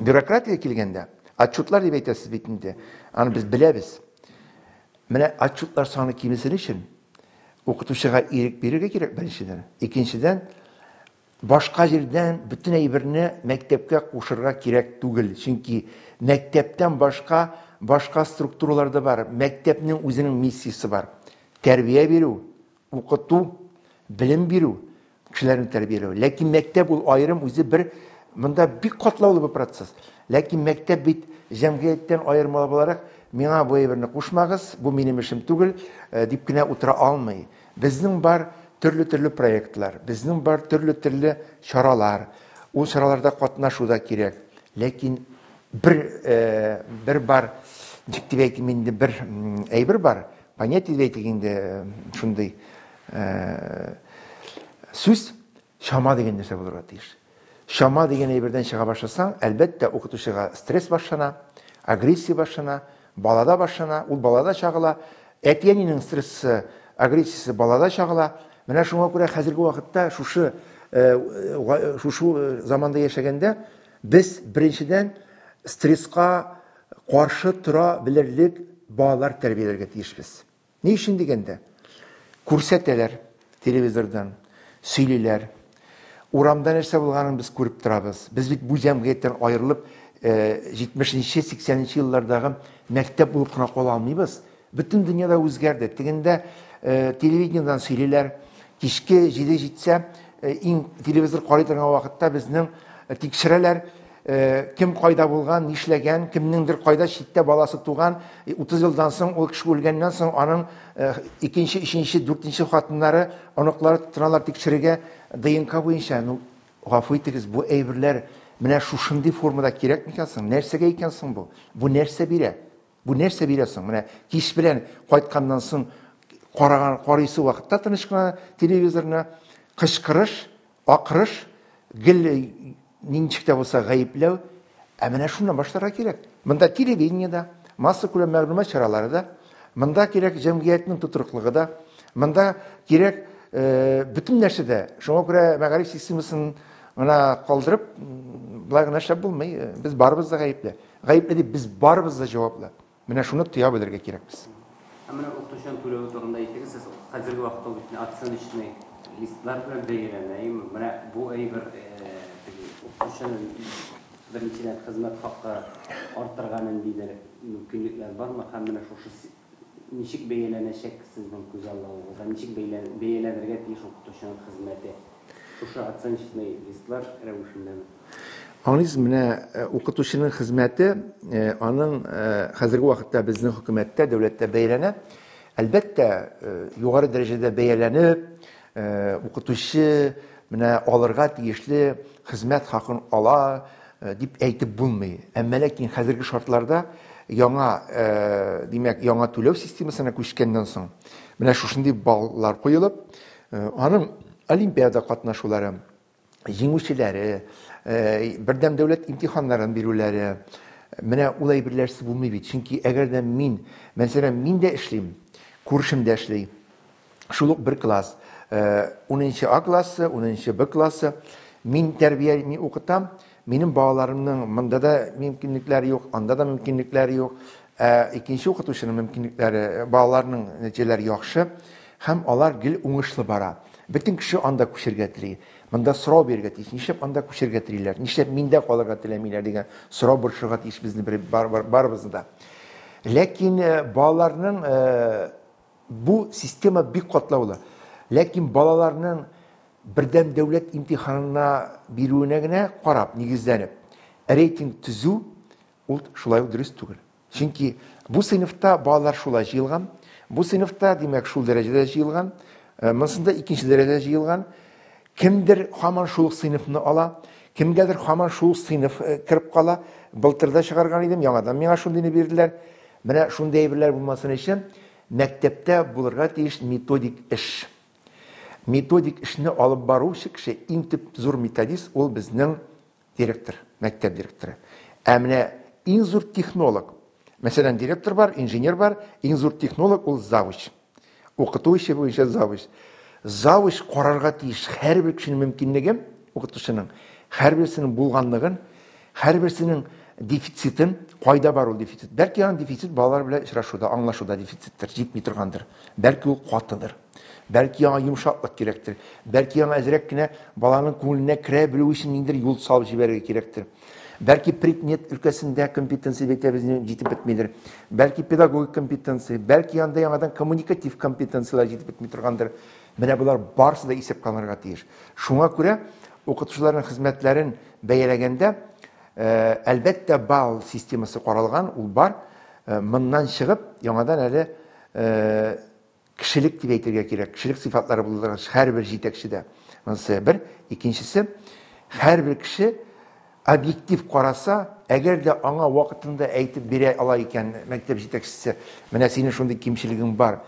Бюрократия килгәндә, отчетлар дип әйтәсез бит инде, аны без беләбез. Менә отчетлар саны кимесен өчен укытучыга ирек бирергә кирәк беренчедән. Икенчедән, башка җирдән бөтен әйберне мәктәпкә кушырга кирәк түгел. Чөнки мәктәптән башка башка структуралар да бар. Мәктәпнең үзенең миссиясе бар. Тәрбия бирү, Укыту, белем бирү, кешеләрне тәрбияләү. Ләкин мәктәп ул аерым үзе бер монда бик катлаулы бер процесс. Ләкин мәктәп бит җәмгыятьтән аермалы буларак миңа бу әйберне кушмагыз, бу минем эшем түгел, э, дип кенә утыра алмый. Безнең бар төрле-төрле проектлар, безнең бар төрле-төрле чаралар. Ул чараларда катнашу да кирәк. Ләкин бер э, бер бар, ничек дип әйтим инде, бер әйбер бар, Понятие дип әйтик инде шундый сүз чама дигән нәрсә булырга тиеш. Чама дигән әйбердән чыга башласаң, әлбәттә, укытучыга стресс башлана, агрессия башлана, балада башлана, ул балада чагыла, әти-әнинең стрессы, агрессиясе балада чагыла. Менә шуңа күрә хәзерге вакытта шушы шушы заманда яшәгәндә без беренчедән стресска каршы тора белерлек балалар тәрбияләргә тиешбез. Ни өчен дигәндә, күрсәтәләр телевизордан, сөйлиләр. Урамда нәрсә булганын без күреп торабыз. Без бит бу җәмгыятьтән аерылып, 70 нче, 80 нче еллардагы мәктәп булып кына кала алмыйбыз. Бөтен дөньяда үзгәрде. Тегендә телевидениедән сөйлиләр. Кичке җиде җитсә, иң телевизор карый торган вакытта безнең тикшерәләр, кем кайда булган, нишләгән, кемнеңдер кайда читтә баласы туган, 30 елдан соң ул кеше үлгәннән соң аның икенче, өченче, дүртенче хатыннары, оныклары тотыналар тикшерергә ДНК буенча. Ну, гафу итегез, бу әйберләр менә шушындый формада кирәк микән соң? Нәрсәгә икән соң бу? Бу нәрсә бирә? Бу нәрсә бирә соң? Менә кич белән кайтканнан соң караган карыйсы вакытта тыныч кына телевизорны кычкырыш, акырыш, гел ничек тә булса гаепләү. Ә менә шуннан башларга кирәк. Монда телевидение да, масса күләм мәгълүмат чаралары да, монда кирәк җәмгыятьнең тотрыклыгы да, монда кирәк бөтен нәрсә дә. Шуңа күрә мәгариф системасын гына калдырып, болай гына эшләп булмый. Без барыбыз да гаепле. Гаепле дип без барыбыз да җаваплы. Менә шуны тоя белергә кирәк без. Ә менә укытучының түләве турында әйтегез, сез хәзерге вакытта ул бит оценочный листлар белән бәяләнә, әйеме? Менә бу әйбер теге укытучының беренчедән хезмәт хакы артырга нинди мөмкинлекләр бармы һәм менә шушы Ничек бәяләнәчәк сезнең күзаллавыгызда? Ничек бәяләнергә тиеш укытучының хезмәте? Шушы оценочный листлар рәвешеннәме? Аңлыйсыз, менә укытучының хезмәте, аның хәзерге вакытта безнең хөкүмәттә, дәүләттә бәяләнә. Әлбәттә, югары дәрәҗәдә бәяләнеп, Э, укытучы менә алырга тиешле хезмәт хакын ала э, дип әйтеп булмый әмма ләкин хәзерге шартларда яңа э, димәк яңа түләү системасына күчкәннән соң менә шушындый баллар куелып аның олимпиада катнашулары җиңүчеләре, бердәм дәүләт имтиханнарын бирүләре, менә ул әйберләрсез булмый бит. Чөнки әгәр дә мин, мәсәлән, мин дә эшлим, күршем дә эшли, шул ук бер класс, унынчы А классы, унынчы Б классы, мин тәрбия, мин укытам, Минем балаларымның монда да мөмкинлекләре юк, анда да мөмкинлекләре юк. Ә икенче укытучының мөмкинлекләре, балаларның нәтиҗәләре яхшы һәм алар гел уңышлы бара. Бөтен кеше анда күчергә тели. Монда сорау бирергә тиеш, нишләп анда күчергә телиләр, нишләп миндә калырга теләмиләр дигән сорау борчырга тиеш безне барыбызны да. Ләкин балаларның Бу система бик катлаулы. Ләкин балаларның бердәм дәүләт имтиханына бирүенә генә карап, нигезләнеп, рейтинг төзү, ул шулай ук дөрес түгел. Чөнки бу сыйныфта балалар шулай җыелган, бу сыйныфта, димәк, шул дәрәҗәдә җыелган, монсында икенче дәрәҗәдә җыелган. Кемдер хаман шул ук сыйныфны ала, кемгәдер хаман шул ук сыйныф э, кереп кала. Былтыр да чыгарган идем, яңадан миңа шундыйны бирделәр. Менә шундый әйберләр булмасын өчен мәктәптә булырга тиеш методик эш. Методик эшне алып баручы кеше, иң төп зур методист, ул безнең Директор, мәктәп директоры. Ә менә иң зур технолог. Мәсәлән, директор бар, инженер бар, иң зур технолог ул завуч. Укыту эше буенча завуч. Завуч карарга тиеш һәрбер кешенең мөмкинлеген, укытучының һәрберсенең булганлыгын, һәрберсенең дефицитын, кайда бар ул дефицит. Бәлки аның дефицит балалар белән очрашуда, аңлашуда дефициттер, җитми торгандыр. Бәлки ул катыдыр. Бәлки яңа йомшаклык кирәктер. Бәлки яңа әзрәк кенә баланың күңеленә керә белү өчен ниндер юл салып җибәрергә кирәктер. Бәлки предмет өлкәсендә компетенция бетәбезне җитеп бетмидер. Бәлки педагогик компетенция, бәлки анда яңадан коммуникатив компетенцияләр җитеп бетми торгандыр. Менә булар барсы да исәпкә алынырга тиеш. Шуңа күрә укытучыларның хезмәтләрен бәяләгәндә, э, әлбәттә, балл системасы каралган, ул бар. Э, моннан чыгып, яңадан әле э, Кешелек дип әйтергә кирәк. Кешелек сыйфатлары булдырган һәрбер җитәкче дә. Монысы бер. Икенчесе, һәрбер кеше объектив караса, әгәр дә аңа вакытында әйтеп бирә ала икән мәктәп җитәкчесе, менә синең шундый кимчелегең бар,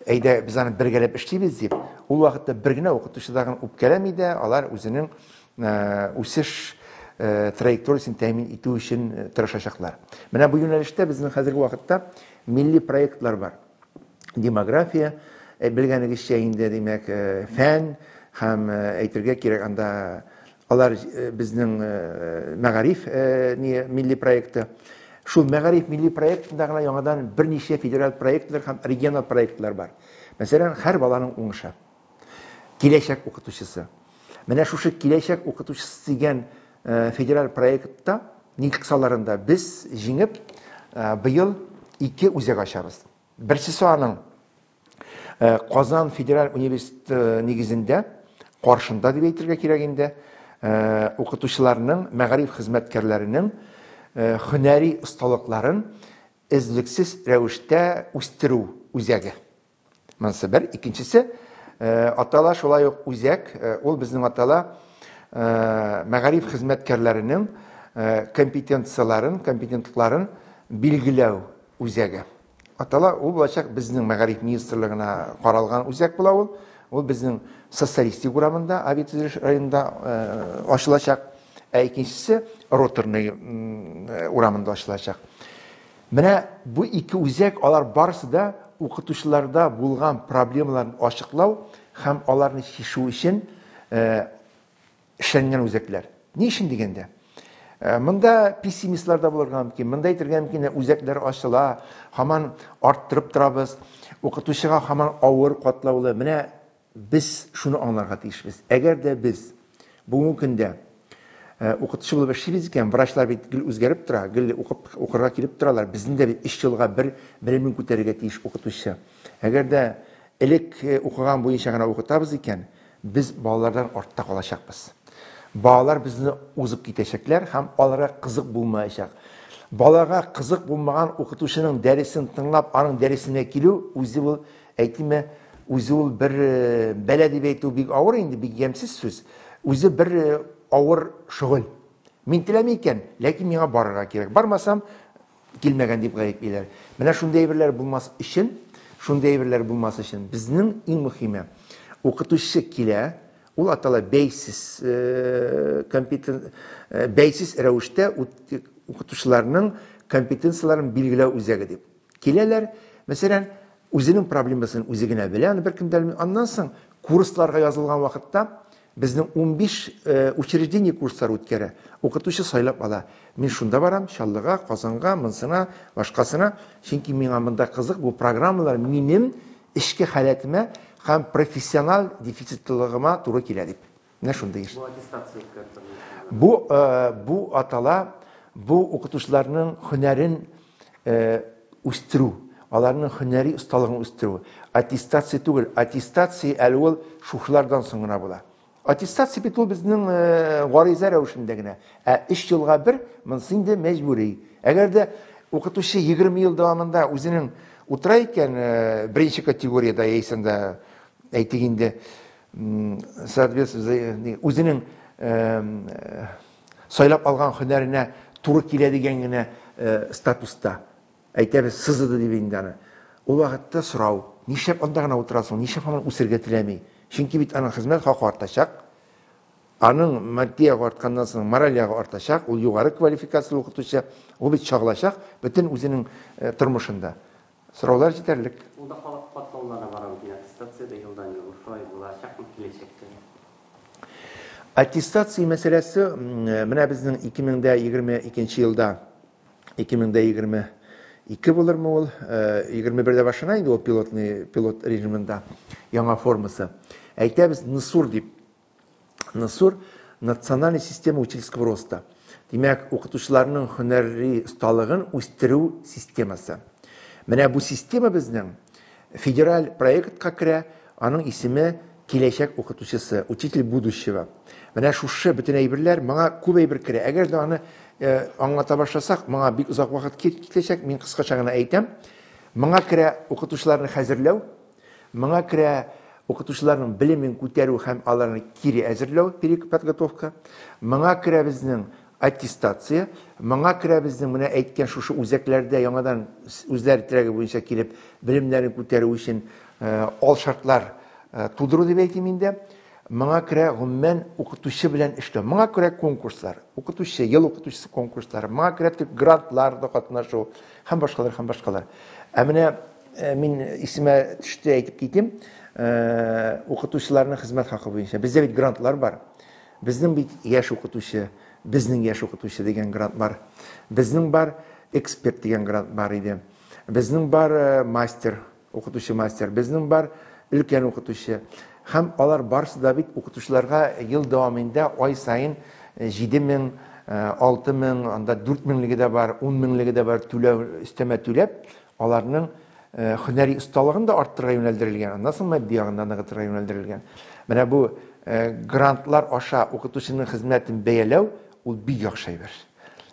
әйдә, без аны бергәләп эшлибез дип, ул вакытта бер генә укытучы да үпкәләми дә, алар үзенең үсеш траекториясен тәэмин итү өчен тырышачаклар. Менә бу юнәлештә безнең хәзерге вакытта милли проектлар бар. Демография, э, белгәнегезчә инде, димәк, э, фән һәм э, әйтергә кирәк анда алар безнең мәгариф милли проекты. Шул мәгариф милли проектында гына яңадан берничә федераль проектлар һәм региональ проектлар бар. Мәсәлән, һәр баланың уңышы. Киләчәк укытучысы. Менә шушы киләчәк укытучысы дигән федераль проектта ник кысаларында без җиңеп быел ике үзәк ачабыз. Берсесе аның Казан федераль университеты нигезендә каршында дип әйтергә кирәк инде укытучыларның, мәгариф хезмәткәрләренең һөнәри осталыкларын эзлексез рәвештә үстерү үзәге. Монысы бер, икенчесе, атала шулай ук үзәк, ул безнең атала мәгариф хезмәткәрләренең компетенцияләрен, компетентлыкларын билгеләү үзәге. Атала ул булачак безнең мәгариф министрлыгына каралган үзәк була ул. Ул безнең социалистик урамында, Авитөзелеш районында ачылачак. Ә икенчесе Роторный урамында ачылачак. Менә бу ике үзәк алар барысы да укытучыларда булган проблемаларны ачыклау һәм аларны чишү өчен эшләнгән үзәкләр. Ни өчен дигәндә, монда пессимистлар да булырга мөмкин. Монда әйтергә мөмкин, үзәкләр ачыла, һаман арттырып торабыз. Укытучыга һаман авыр катлаулы. Менә Без шуны аңларга тиешбез, әгәр дә без бүгенге көндә укытучы булып эшлибез икән, врачлар бит гел үзгәреп тора, гел укып, укырга килеп торалар. Безнең дә бит өч елга бер белемен күтәрергә тиеш укытучы. Әгәр дә элек укыган буенча гына укытабыз икән, без балалардан артта калачакбыз. Балалар безне узып китәчәкләр һәм аларга кызык булмаячак. Балага кызык булмаган укытучының дәресен тыңлап, аның дәресенә килү үзе ул Әйтимме, үзе ул бер бәла дип әйтү бик авыр инде, бик ямьсез сүз. Үзе бер авыр шөгыль. Мин теләми икән, ләкин миңа барырга кирәк. Бармасам, килмәгән дип гаеплиләр. Менә шундый әйберләр булмас өчен, шундый әйберләр булмас өчен безнең иң мөһиме, укытучы килә, ул атала бәйсез э, компетен э, бәйсез рәвештә укытучыларның компетенцияләрен билгеләү үзәге дип. Киләләр, мәсәлән, үзенең проблемасын үзе генә белә, аны беркем дә белми. Аннан соң курсларга язылган вакытта безнең 15 э, учреждение курслар үткәрә. Укытучы сайлап ала. Мин шунда барам, Чаллыга, Казанга, монсына, башкасына. Чөнки миңа монда кызык, бу программалар минем эчке халәтемә һәм профессиональ дефицитлылыгыма туры килә дип. Менә шундый еш. Бу аттестация үткәртелде. Бу бу атала бу укытучыларның һөнәрен үстерү, аларның һөнәри осталыгын үстерү. Аттестация түгел, аттестация әле ул шушылардан соң гына була. Аттестация бит ул безнең гариза рәвешендә генә. Ә 3 елга бер монысы инде мәҗбүри. Әгәр дә укытучы 20 ел дәвамында үзенең утыра икән беренче категориядә яисә әйтик инде соответственно үзенең сайлап алган һөнәренә туры килә дигән генә статуста әйтәбез сызыды дип инде аны ул вакытта сорау нишләп анда гына утырасың нишләп һаман үсергә теләми чөнки бит аның хезмәт хакы артачак аның матди ягы артканнан соң мораль ягы артачак ул югары квалификацияле укытучы ул бит чагылачак бөтен үзенең тормышында Сораулар җитәрлек. Ул да халык катлауларына бара микән? Аттестациядә елдан-ел шулай булачакмы киләчәктә? Аттестация мәсьәләсе менә безнең 2022 елда 2022 булырмы ул? 21дә башлана инде ул пилотный пилот режимында яңа формасы. Әйтәбез НСУР дип. НСУР, национальная система учительского роста. Димәк, укытучыларның һөнәри осталыгын үстерү системасы. Менә бу система безнең федераль проектка керә, аның исеме киләчәк укытучысы, учитель будущего. Менә шушы бөтен әйберләр моңа күп әйбер керә. Әгәр дә аны э, аңлата башласак, моңа бик озак вакыт китәчәк. Мин кыскача гына әйтәм. Моңа керә укытучыларны хәзерләү, Моңа керә укытучыларның белемен күтәрү һәм аларны кире әзерләү, переподготовка. Моңа керә безнең аттестация, моңа керә безнең менә әйткән шушы үзәкләрдә яңадан үзләре теләге буенча килеп белемнәрен күтәрү өчен э, ал шартлар э, тудыру дип әйтим инде. Моңа керә гомумән укытучы белән эшләү. Моңа керә конкурслар, укытучы, ел укытучысы конкурслары, моңа керә төп грантларда катнашу һәм башкалар һәм башкалар. Ә менә Э, мин исемә төште әйтеп китим э, укытучыларның хезмәт хакы буенча бездә бит грантлар бар безнең бит яшь укытучы безнең яшь укытучы дигән грант бар безнең бар эксперт дигән грант бар иде безнең бар э, мастер укытучы мастер безнең бар өлкән укытучы һәм алар барысы да бит укытучыларга ел дәвамында ай сайын җиде мең алты мең анда дүрт меңлеге дә бар ун меңлеге дә бар түләү өстәмә түләп аларның һөнәри осталыгын да арттырырга юнәлдерелгән, аннан соң матди ягында ныгытырга юнәлдерелгән. Менә бу грантлар аша укытучының хезмәтен бәяләү ул бик яхшы әйбер.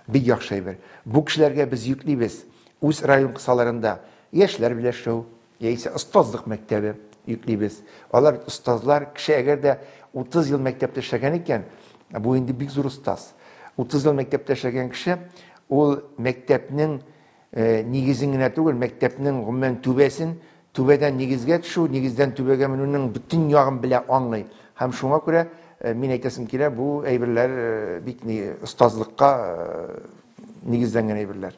Бик яхшы әйбер. Бу кешеләргә без йөклибез. Үз район кысаларында яшьләр берләшү, яисә остазлык мәктәбе йөклибез. Алар остазлар, кеше әгәр дә 30 ел мәктәптә эшләгән икән, бу инде бик зур остаз. 30 ел мәктәптә эшләгән кеше ул мәктәпнең Нигезен генә түгел, мәктәпнең, гомумән, түбәсен, түбәдән нигезгә төшү, нигездән түбәгә менүнең бөтен ягын белә, аңлый. Һәм шуңа күрә, мин әйтәсем килә, бу әйберләр бик ни, остазлыкка нигезләнгән әйберләр.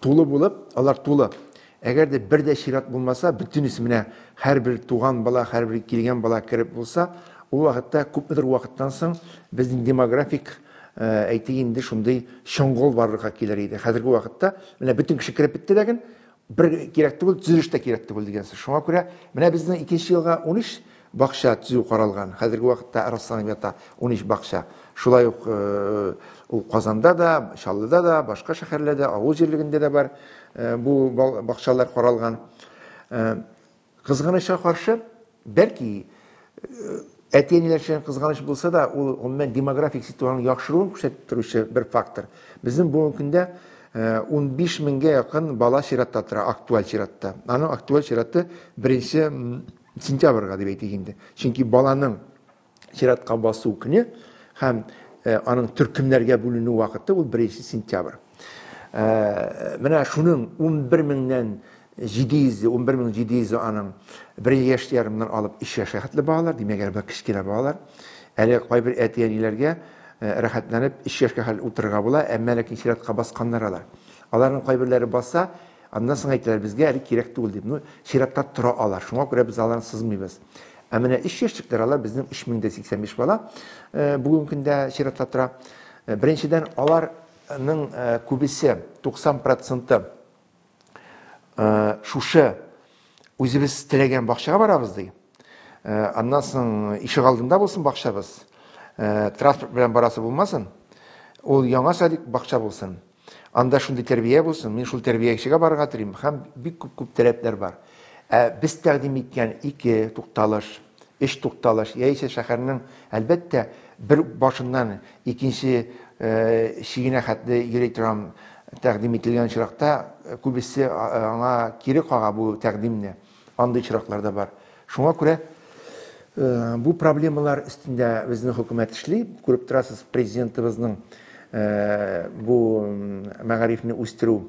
Тулы булып, алар тулы. Әгәр дә бер дә чират булмаса, бөтенесе менә һәрбер туган бала, һәрбер килгән бала кереп булса, ул вакытта күпмедер вакыттан соң безнең демографик әйтик инде шундый чоңгыл барлыкка килер иде. Хәзерге вакытта менә бөтен кеше кереп бетте ләкин бер кирәк түгел, төзелеш тә кирәк түгел дигән сүз. Шуңа күрә менә безнең икенче елга 13 Бакча төзү каралган. Хәзерге вакытта расланып ята унөч бакча. Шулай ук ул Казанда да, Чаллыда да, башка шәһәрләрдә, авыл җирлегендә дә бар бу бакчалар каралган. Кызганычка каршы, бәлки, әти-әниләр өчен кызганыч булса да, ул гомумән демографик ситуациянең яхшыруын күрсәтеп торучы бер фактор. Безнең бүгенге көндә 15 меңгә якын бала чиратта тора, актуаль чиратта. Аның актуаль чираты беренче сентябрьга дип әйтик инде. Чөнки баланың чиратка басу көне һәм э, аның төркемнәргә бүленү вакыты ул 1 сентябрь. Э, менә шуның 11 меңнән 700 11 мең 700 аның бер яшь ярымнан алып 3 яшьгә хәтле балалар, димәк, әле кечкенә балалар. Әле кайбер әти-әниләргә э, рәхәтләнеп 3 яшькә хәл утырырга була, әмма ләкин чиратка басканнар алар. Аларның кайберләре баса, Аннан соң әйтәләр, безгә әле кирәк түгел дип. Ну, чиратта тора алар, шуңа күрә без аларны сызмыйбыз. Ә менә 3 яшьлекләр алар безнең 3085 бала э, бүгенге көндә чиратта тора. Э, беренчедән, аларның э, күбесе, 90 проценты шушы үзебез теләгән бакчага барабыз ди. Аннан соң ишек алдында булсын бакчабыз, транспорт белән барасы булмасын, ул яңа садик бакча булсын. Анда шундый тәрбия булсын, мин шул тәрбиячегә барырга телим һәм бик күп-күп таләпләр бар. Ә без тәкъдим иткән ике тукталыш, өч тукталыш, яисә шәһәрнең, әлбәттә, бер башыннан икенче чигенә хәтле йөри торам тәкъдим ителгән очракта, күбесе аңа кире кага бу тәкъдимне. Андый очраклар да бар. Шуңа күрә бу проблемалар өстендә безнең хөкүмәт эшли. Күреп торасыз, президентыбызның бу мәгарифне үстерү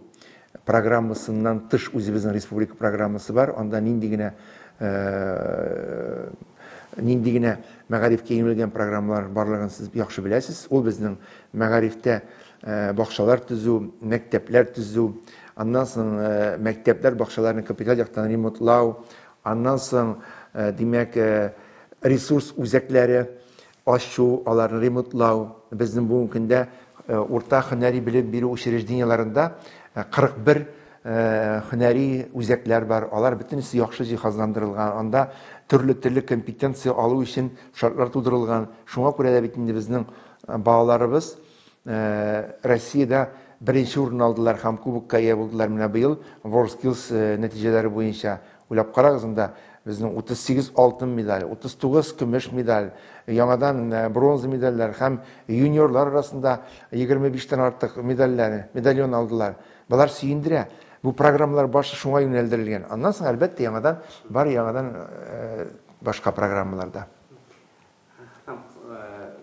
программасыннан тыш үзебезнең республика программасы бар. Анда нинди генә нинди генә мәгарифкә юнәлгән программалар барлыгын сез яхшы беләсез. Ул безнең мәгарифтә Э, бакчалар төзү мәктәпләр төзү аннан соң э, мәктәпләр бакчаларны капиталь яктан ремонтлау аннан соң э, димәк ресурс үзәкләре ачу аларны ремонтлау безнең бүгенге көндә урта һөнәри белем бирү учреждениеларында 41 һөнәри үзәкләр бар алар бөтенесе яхшы җиһазландырылган анда төрле төрле компетенция алу өчен шартлар тудырылган шуңа күрә дә бит инде безнең балаларыбыз Россиядә беренче урынны алдылар һәм кубокка ия булдылар менә быел WorldSkills нәтиҗәләре буенча. Уйлап карагыз анда, безнең 38 алтын медаль, 39 көмеш медаль, яңадан бронза медальләр һәм юниорлар арасында 25 тән артык медальләр, медальон алдылар. Болар сөендерә. Бу программалар башы шуңа юнәлдерелгән. Аннан соң, әлбәттә, яңадан бар, яңадан башка программалар да.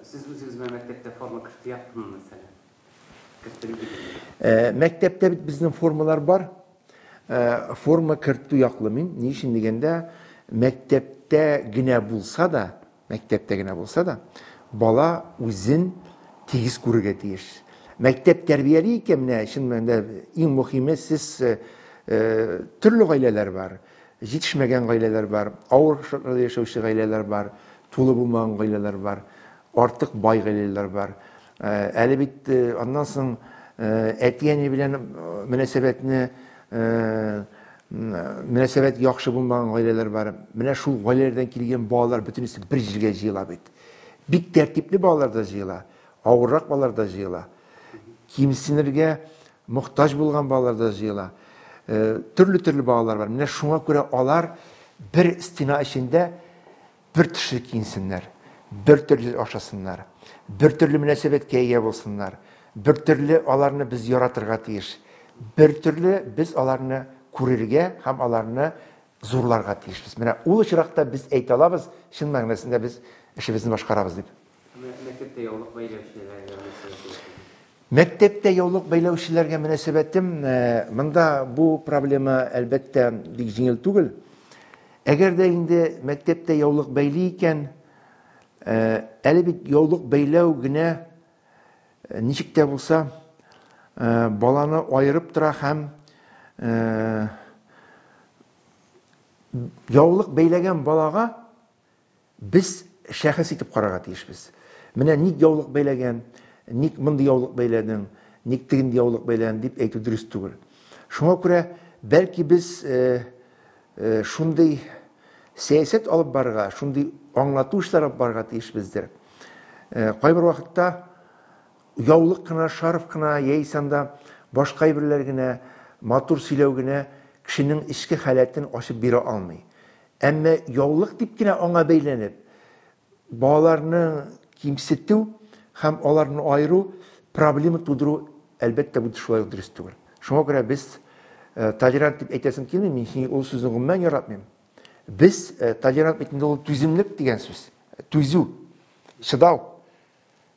Сез үзегез белән мәктәптә форма кертеп яптымы, мәсәлән? Кертеп идегезме? Э, мәктәптә бит безнең формалар бар. Э, форма кертү яклы мин. Ни өчен дигәндә, мәктәптә генә булса да, мәктәптә генә булса да, бала үзен тигез күрергә тиеш. Мәктәп тәрбияли икән, менә чын мәнендә иң мөһиме сез э, төрле гаиләләр бар. Җитешмәгән гаиләләр бар, авыр шартларда яшәүче гаиләләр бар, тулы булмаган гаиләләр бар, артык бай гаиләләр бар. Әле бит аннан соң әти-әни белән мөнәсәбәтне мөнәсәбәт яхшы булмаган гаиләләр бар. Менә шул гаиләләрдән килгән балалар бөтенесе бер җиргә җыела бит. Бик тәртипле балалар да җыела, авыррак балалар да җыела. Кимсенергә Мохтаҗ булган балалар да җыела. Төрле-төрле балалар бар. Менә шуңа күрә алар бер стена эчендә бер төшле киенсеннәр, бер төрле ашасыннар, бер төрле мөнәсәбәткә ия булсыннар, бер төрле аларны без яратырга тиеш, бер төрле без аларны күрергә һәм аларны зурларга тиешбез. Менә ул очракта без әйтә алабыз, чын мәгънәсендә без эшебезне башкарабыз дип. Мәктәптә яулык бәйләүчеләргә мөнәсәбәтегез? Мәктәптә яулык бәйләүчеләргә мөнәсәбәтем, э, монда бу проблема, әлбәттә, бик җиңел түгел. Әгәр дә инде мәктәптә яулык бәйли икән, э, әле бит яулык бәйләү генә э, ничек тә булса э, баланы аерып тора һәм э, яулык бәйләгән балага Без шәхес итеп карарга тиешбез. Менә ник яулык бәйләгән, ник мондый яулык бәйләдең, ник тегенди яулык бәйләдең дип әйтү дөрес түгел. Шуңа күрә, бәлки без шундый сәясәт алып барырга, шундый аңлату эшләре алып барырга тиешбездер. Кайбер вакытта яулык кына, шарф кына яисә анда башка әйберләр генә, матур сөйләү генә кешенең эчке халәтен ачып бирә алмый. Әмма яулык дип кенә аңа бәйләнеп, балаларны кимсетү һәм аларны аеру, проблема тудыру, әлбәттә, бу шулай ук дөрес түгел. Шуңа күрә без э, толерант дип әйтәсем килми, мин сине ул сүзне гомумән яратмыйм. Без э, толерант бит инде ул түземлек дигән сүз, түзү, чыдау.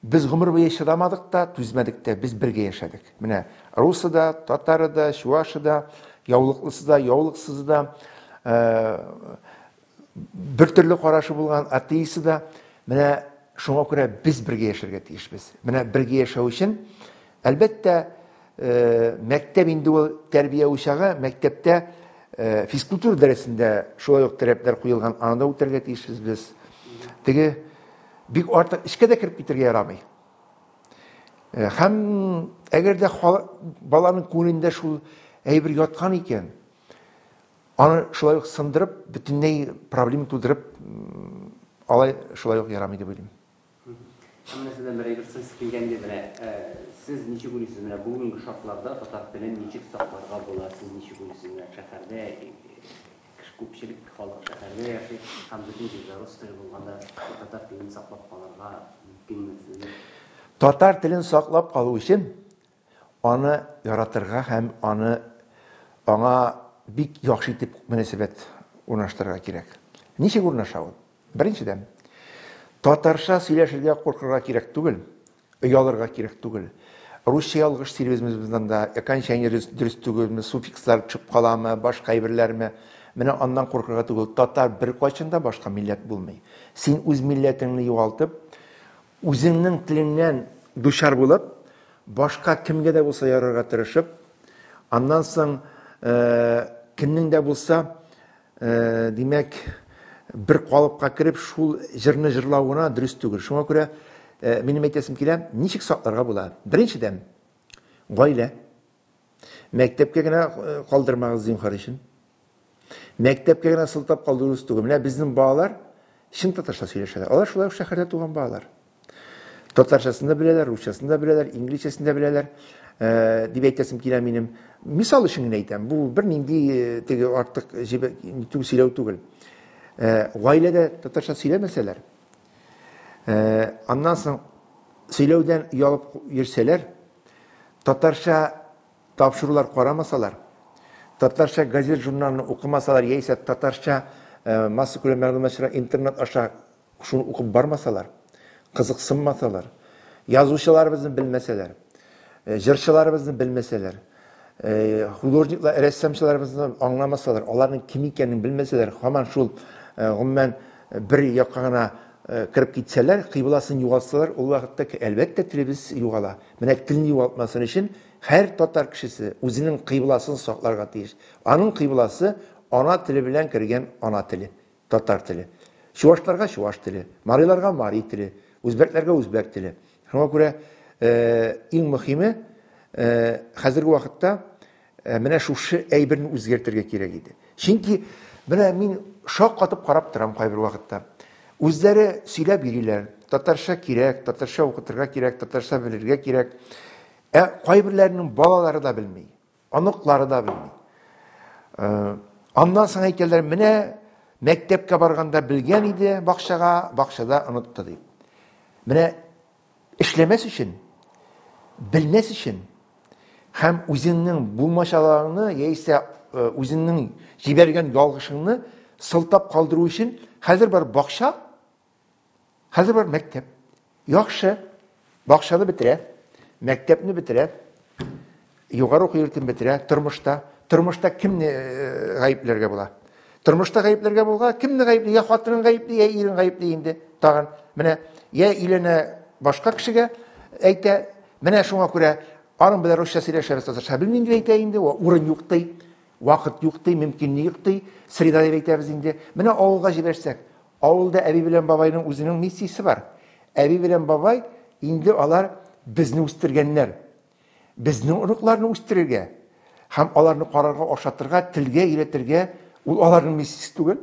Без гомер буе чыдамадык та, түзмәдек тә, без бергә яшәдек. Менә русы да, татары да, чуашы да, яулыклысы да, яулыксызы да, бер төрле карашы булган атеисты да, менә шуңа күрә без бергә яшәргә тиешбез. Менә бергә яшәү өчен Әлбәттә, мәктәп инде ул тәрбия учагы, мәктәптә физкультура дәресендә шулай ук таләпләр куелган, аны да үтәргә тиешбез без. Теге бик артык эчкә дә кереп китергә ярамый. Һәм әгәр дә баланың күңелендә шул әйбер яткан икән, аны шулай ук сындырып, бөтенләй проблема тудырып алай шулай ук ярамый дип уйлыйм. Менә сездән бер әйбер сез килгән иде менә. Э, сез ничек уйлыйсыз, менә бүгенге шартларда татар телен ничек сакларга була? Сез ничек уйлыйсыз, менә шәһәрдә кеше күпчелек халык шәһәрдә яши, һәм бөтен җирдә рус теле булганда татар телен саклап калырга мөмкинме? Татар телен саклап калу өчен Аны яратырга һәм аны аңа бик яхшы итеп мөнәсәбәт урнаштырырга кирәк. Ничек урнаша ул? Беренчедән, татарча сөйләшергә куркырга кирәк түгел, оялырга кирәк түгел. Русча ялгыш сөйлибезмебездән да, окончание дөрес түгелме, суффикслар төшеп каламы, башка әйберләрме? Менә аннан куркырга түгел. Татар беркайчан да башка милләт булмый. Син үз милләтеңне югалтып, Үзеңнең телеңнән дучар булып, башка кемгә дә булса ярарга тырышып, аннан соң кемнең дә булса, димәк, бер калыпка кереп, шул җырны җырлау гына дөрес түгел. Шуңа күрә минем әйтәсем килә, ничек сакларга була? Беренчедән, гаилә. Мәктәпкә генә калдырмагыз, зинхар өчен. Мәктәпкә генә сылтап калдыру түгел. Менә безнең балалар чын татарча сөйләшәләр. Алар шулай ук шәһәрдә туган балалар. Татарчасын да беләләр, русчасын да беләләр, инглизчәсен дә беләләр, э, дип әйтәсем килә минем. Мисал өчен генә әйтәм, бу бернинди э, теге артык җибә- сөйләү түгел. Э, Гаиләдә татарча сөйләмәсәләр, Э, аннан соң сөйләүдән ялып йөрсәләр, татарча тапшырулар карамасалар, татарча газет журналны укымасалар, яисә татарча э, масса күләм мәгълүматлар интернет аша шуны укып бармасалар, кызыксынмасалар, язучыларыбызны белмәсәләр, э, җырчыларыбызны белмәсәләр, художниклар рәссамчыларыбызны аңламасалар аларның кем икәнен белмәсәләр һаман шул гомумән бер якка гына кереп китсәләр кыйбласын югалтсалар ул вакытта әлбәттә телебез югала менә телне югалтмасын өчен һәр татар кешесе үзенең кыйбласын сакларга тиеш аның кыйбласы ана теле белән кергән ана теле Татар теле. Чувашларга чуваш теле, мариларга мари теле, үзбәкләргә үзбәк теле. Шуңа күрә иң мөхиме хәзерге вакытта менә шушы әйберне үзгәртергә кирәк иде. Чөнки менә мин шаккатып карап торам кайбер вакытта. Үзләре сөйләп йөриләр, татарча кирәк, татарча укытырга кирәк, татарча белергә кирәк. Ә кайберләренең балалары да белми. Оныклары да белми. Э, аннан соң әйтәләр, менә мәктәпкә барганда белгән иде бакчага, бакчада онытты дип. Менә эшләмәс өчен, белмәс өчен һәм үзеңнең булмашаларыңны яисә э, үзеңнең җибәргән ялгышыңны сылтап калдыру өчен хәзер бар бакча Хәзер бар мәктәп. Яхшы бакчаны бетерә, мәктәпне бетерә, югары уку йортын бетерә, тормышта. Тормышта кемне э, гаепләргә була? Тормышта гаепләргә булга кемне гаепли? Я хатынын гаепли, я ирен гаепли инде. Тагын менә я иленә башка кешегә әйтә, менә шуңа күрә аның белән русча сөйләшәбез, татарча белмим дип әйтә инде, урын юк ди. Вакыт юк ди, мөмкин юк ди, среда дип әйтәбез инде. Менә авылга җибәрсәк, авылда әби белән бабайның үзенең миссиясе бар. Әби белән бабай инде алар безне үстергәннәр. Безнең оныкларны үстерергә һәм аларны карарга, ашатырга, телгә өйрәтергә ул аларның миссиясе түгел.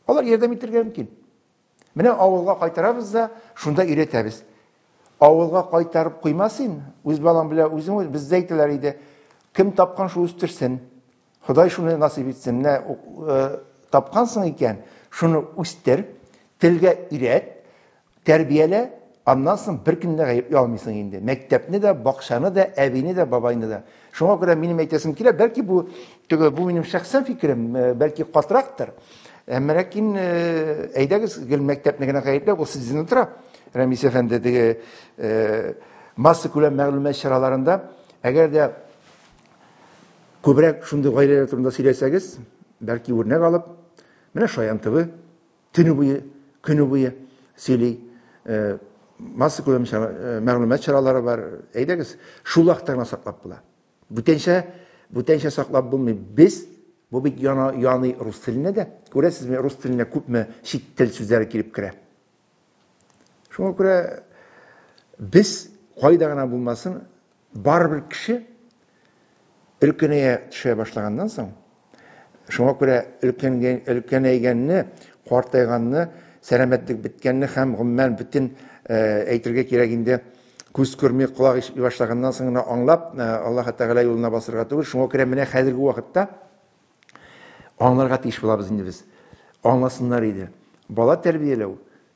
Алар ярдәм итергә мөмкин. Менә авылга кайтарабыз да, шунда өйрәтәбез. Авылга кайтарып куйма син, үз балаң белән үзең үз, бездә әйтәләр иде. Кем тапкан шул үстерсен. Ходай шуны насыйп итсен. Менә э, тапкансың икән, шуны үстер, телгә өйрәт, Тәрбиялә, аннан соң беркемне дә гаепли алмыйсың инде. Мәктәпне дә, бакчаны да, әбине дә, бабайны да. Шуңа күрә минем әйтәсем килә, бәлки бу теге бу минем шәхсән фикерем, э, бәлки катрактыр. Әмма ләкин э, әйдәгез гел мәктәпне генә гаепләп, ул сездән тора. Рәмис әфәнде теге э, масса күләм мәгълүмат чараларында, әгәр дә күбрәк шундый гаиләләр турында сөйләсәгез, бәлки үрнәк алып, менә Шаян ТВ Төне буе, көне буе сөйли. Э, масса күләм э, мәгълүмат чаралары бар. Әйдәгез, шул вакытта гына саклап була. Бүтәнчә, бүтәнчә саклап булмый. Без бу бит яна, яный рус теленә дә. Күрәсезме, рус теленә күпме чит тел сүзләре килеп керә. Шуңа күрә без кайда гына булмасын, Барыбер кеше өлкәнәя төшә башлаганнан соң, шуңа күрә өлкәнгән, өлкәнәйгәнне, картайганны, сәламәтлек беткәнне һәм гомумән бөтен әйтергә кирәк инде күз күрми, колак ишетми башлаганнан соң гына аңлап, Аллаһ Тәгалә юлына басырга түгел. Шуңа күрә менә хәзерге вакытта аңларга тиеш булабыз инде без. Аңласыннар иде. Бала тәрбияләү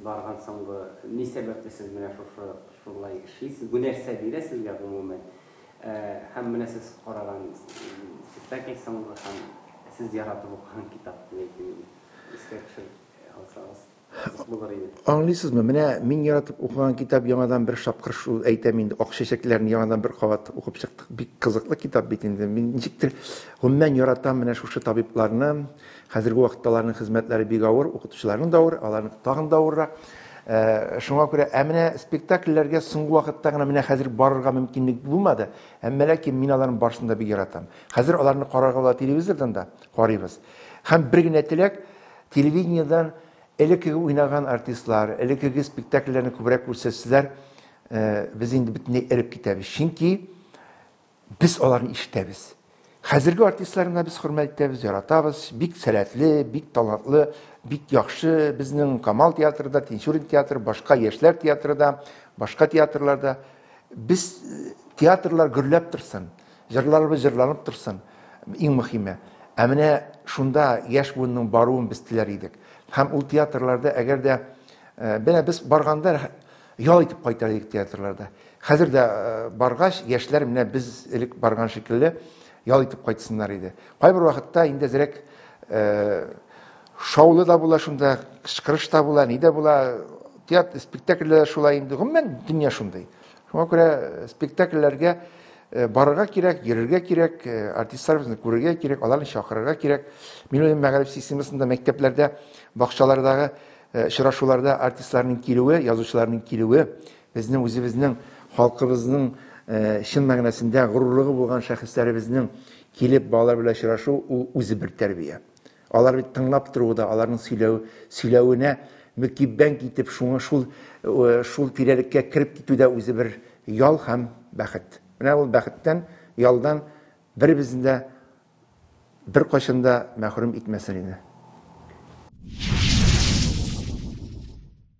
Барган соңгы ни сәбәпле сез менә шушы шулай эшлисез? Бу нәрсә бирә сезгә гомумән? Һәм менә сез караган спектакль соңгы һәм сез яратып укыган китап дип әйтим инде. Искә төшереп алсагыз кызык булыр иде. Аңлыйсызмы, менә мин яратып укыган китап яңадан бер шапкыр шул, әйтәм инде, Ак чәчәкләрне яңадан бер кабат укып чыктык. Бик кызыклы китап бит инде. Мин ничектер гомумән яратам менә шушы табибларны, Хәзерге вакытта аларның хезмәтләре бик авыр, укытучыларның да авыр, аларның тагын да авыррак. Э, шуңа күрә ә менә спектакльләргә соңгы вакытта гына менә хәзер барырга мөмкинлек булмады әмма ләкин мин аларны барысын да бик яратам хәзер аларны карарга була телевизордан да карыйбыз һәм бер генә теләк телевидениедән элеккеге уйнаган артистлар элеккеге спектакльләрне күбрәк күрсәтсәләр э, без инде бөтенләй эреп китәбез чөнки Без аларны ишетәбез. Хәзерге артистлар гына без хөрмәт итәбез, яратабыз. Бик сәләтле, бик талантлы, бик яхшы безнең Камал театры да, Тинчурин театры, башка яшьләр театры да, башка театрларда. Без э, театрлар гөрләп торсын, җырларыбыз җырланып торсын, иң мөһиме. Ә менә шунда яшь буынның баруын без теләр идек. Һәм ул театрларда әгәр дә э, менә без барганда Ял итеп кайта идек театрларда. Хәзер дә баргач, яшьләр менә без элек барган шикелле ял итеп кайтсыннар иде. Кайбер вакытта инде зрәк шаулы да була шунда, кычкырыш та була, ни дә була. Театр спектакльләр шулай инде. Гомумән дөнья шундый. Шуңа күрә спектакльләргә барырга кирәк, йөрергә кирәк, артистларыбызны күрергә кирәк, аларны чакырырга кирәк. Мин үзем мәгариф системасында мәктәпләрдә, бакчалардагы Э, очрашуларда артистларның килүе, язучыларның килүе безнең үзебезнең халкыбызның э, чын мәгънәсендә горурлыгы булган шәхесләребезнең килеп балалар белән очрашу ул үзе бер тәрбия. Алар бит тыңлап торуы да, аларның сөйләү, сөйләвенә мөкиббән китеп, шуңа шул э, шул тирәлеккә кереп китү дә үзе бер ял һәм бәхет. Менә ул бәхеттән, ялдан беребезнең дә Беркайчан да мәхрүм итмәсен иде.